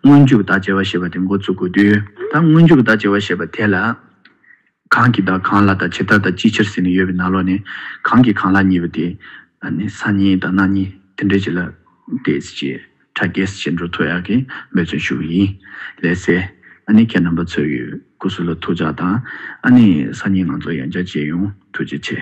སྔོན་འཇུག་བདག་བྱེད་བ་ཞེས་པ་དེ་མགོ་ཚུགས་དགོས་དུས་ད་སྔོན་འཇུག་བདག་བྱེད་བ་ཞེས་པ་དེ་ལ། གང་གིས་བདག་གང་ལ་དང་ཇི་ལྟར་དང་ཅིའི་ཕྱིར་ཟེར་ནས་ཡོད་པའི་ན་ལོ་ནས། གང་གིས་གང་ལ་གཉིས་པ་དེ། ནི་ས་གཉིས་དང་སྣ་གཉིས་དེ་འདྲའི་བྱེད་ལ། དེས་ཅེས་དྲ་རྒྱས་ཅེས་འགྲོ་ཐོ་ཡག་གིས་མོས་བརྩོན་ཞུ་བ་ཡིན། ལས་སེ། ཨ་ནི་ཁྱེད་རྣམ་པ་ཚོའི་གི་སྐུ་གཟུགས་ལ་ཐུགས་བཅག་དང། ཨ་ནི་ས་གཉིས་ང་ཚོ་ཡང་བསྐྱར་མཇལ་ཡོང་ཐུགས་རྗེ་ཆེ།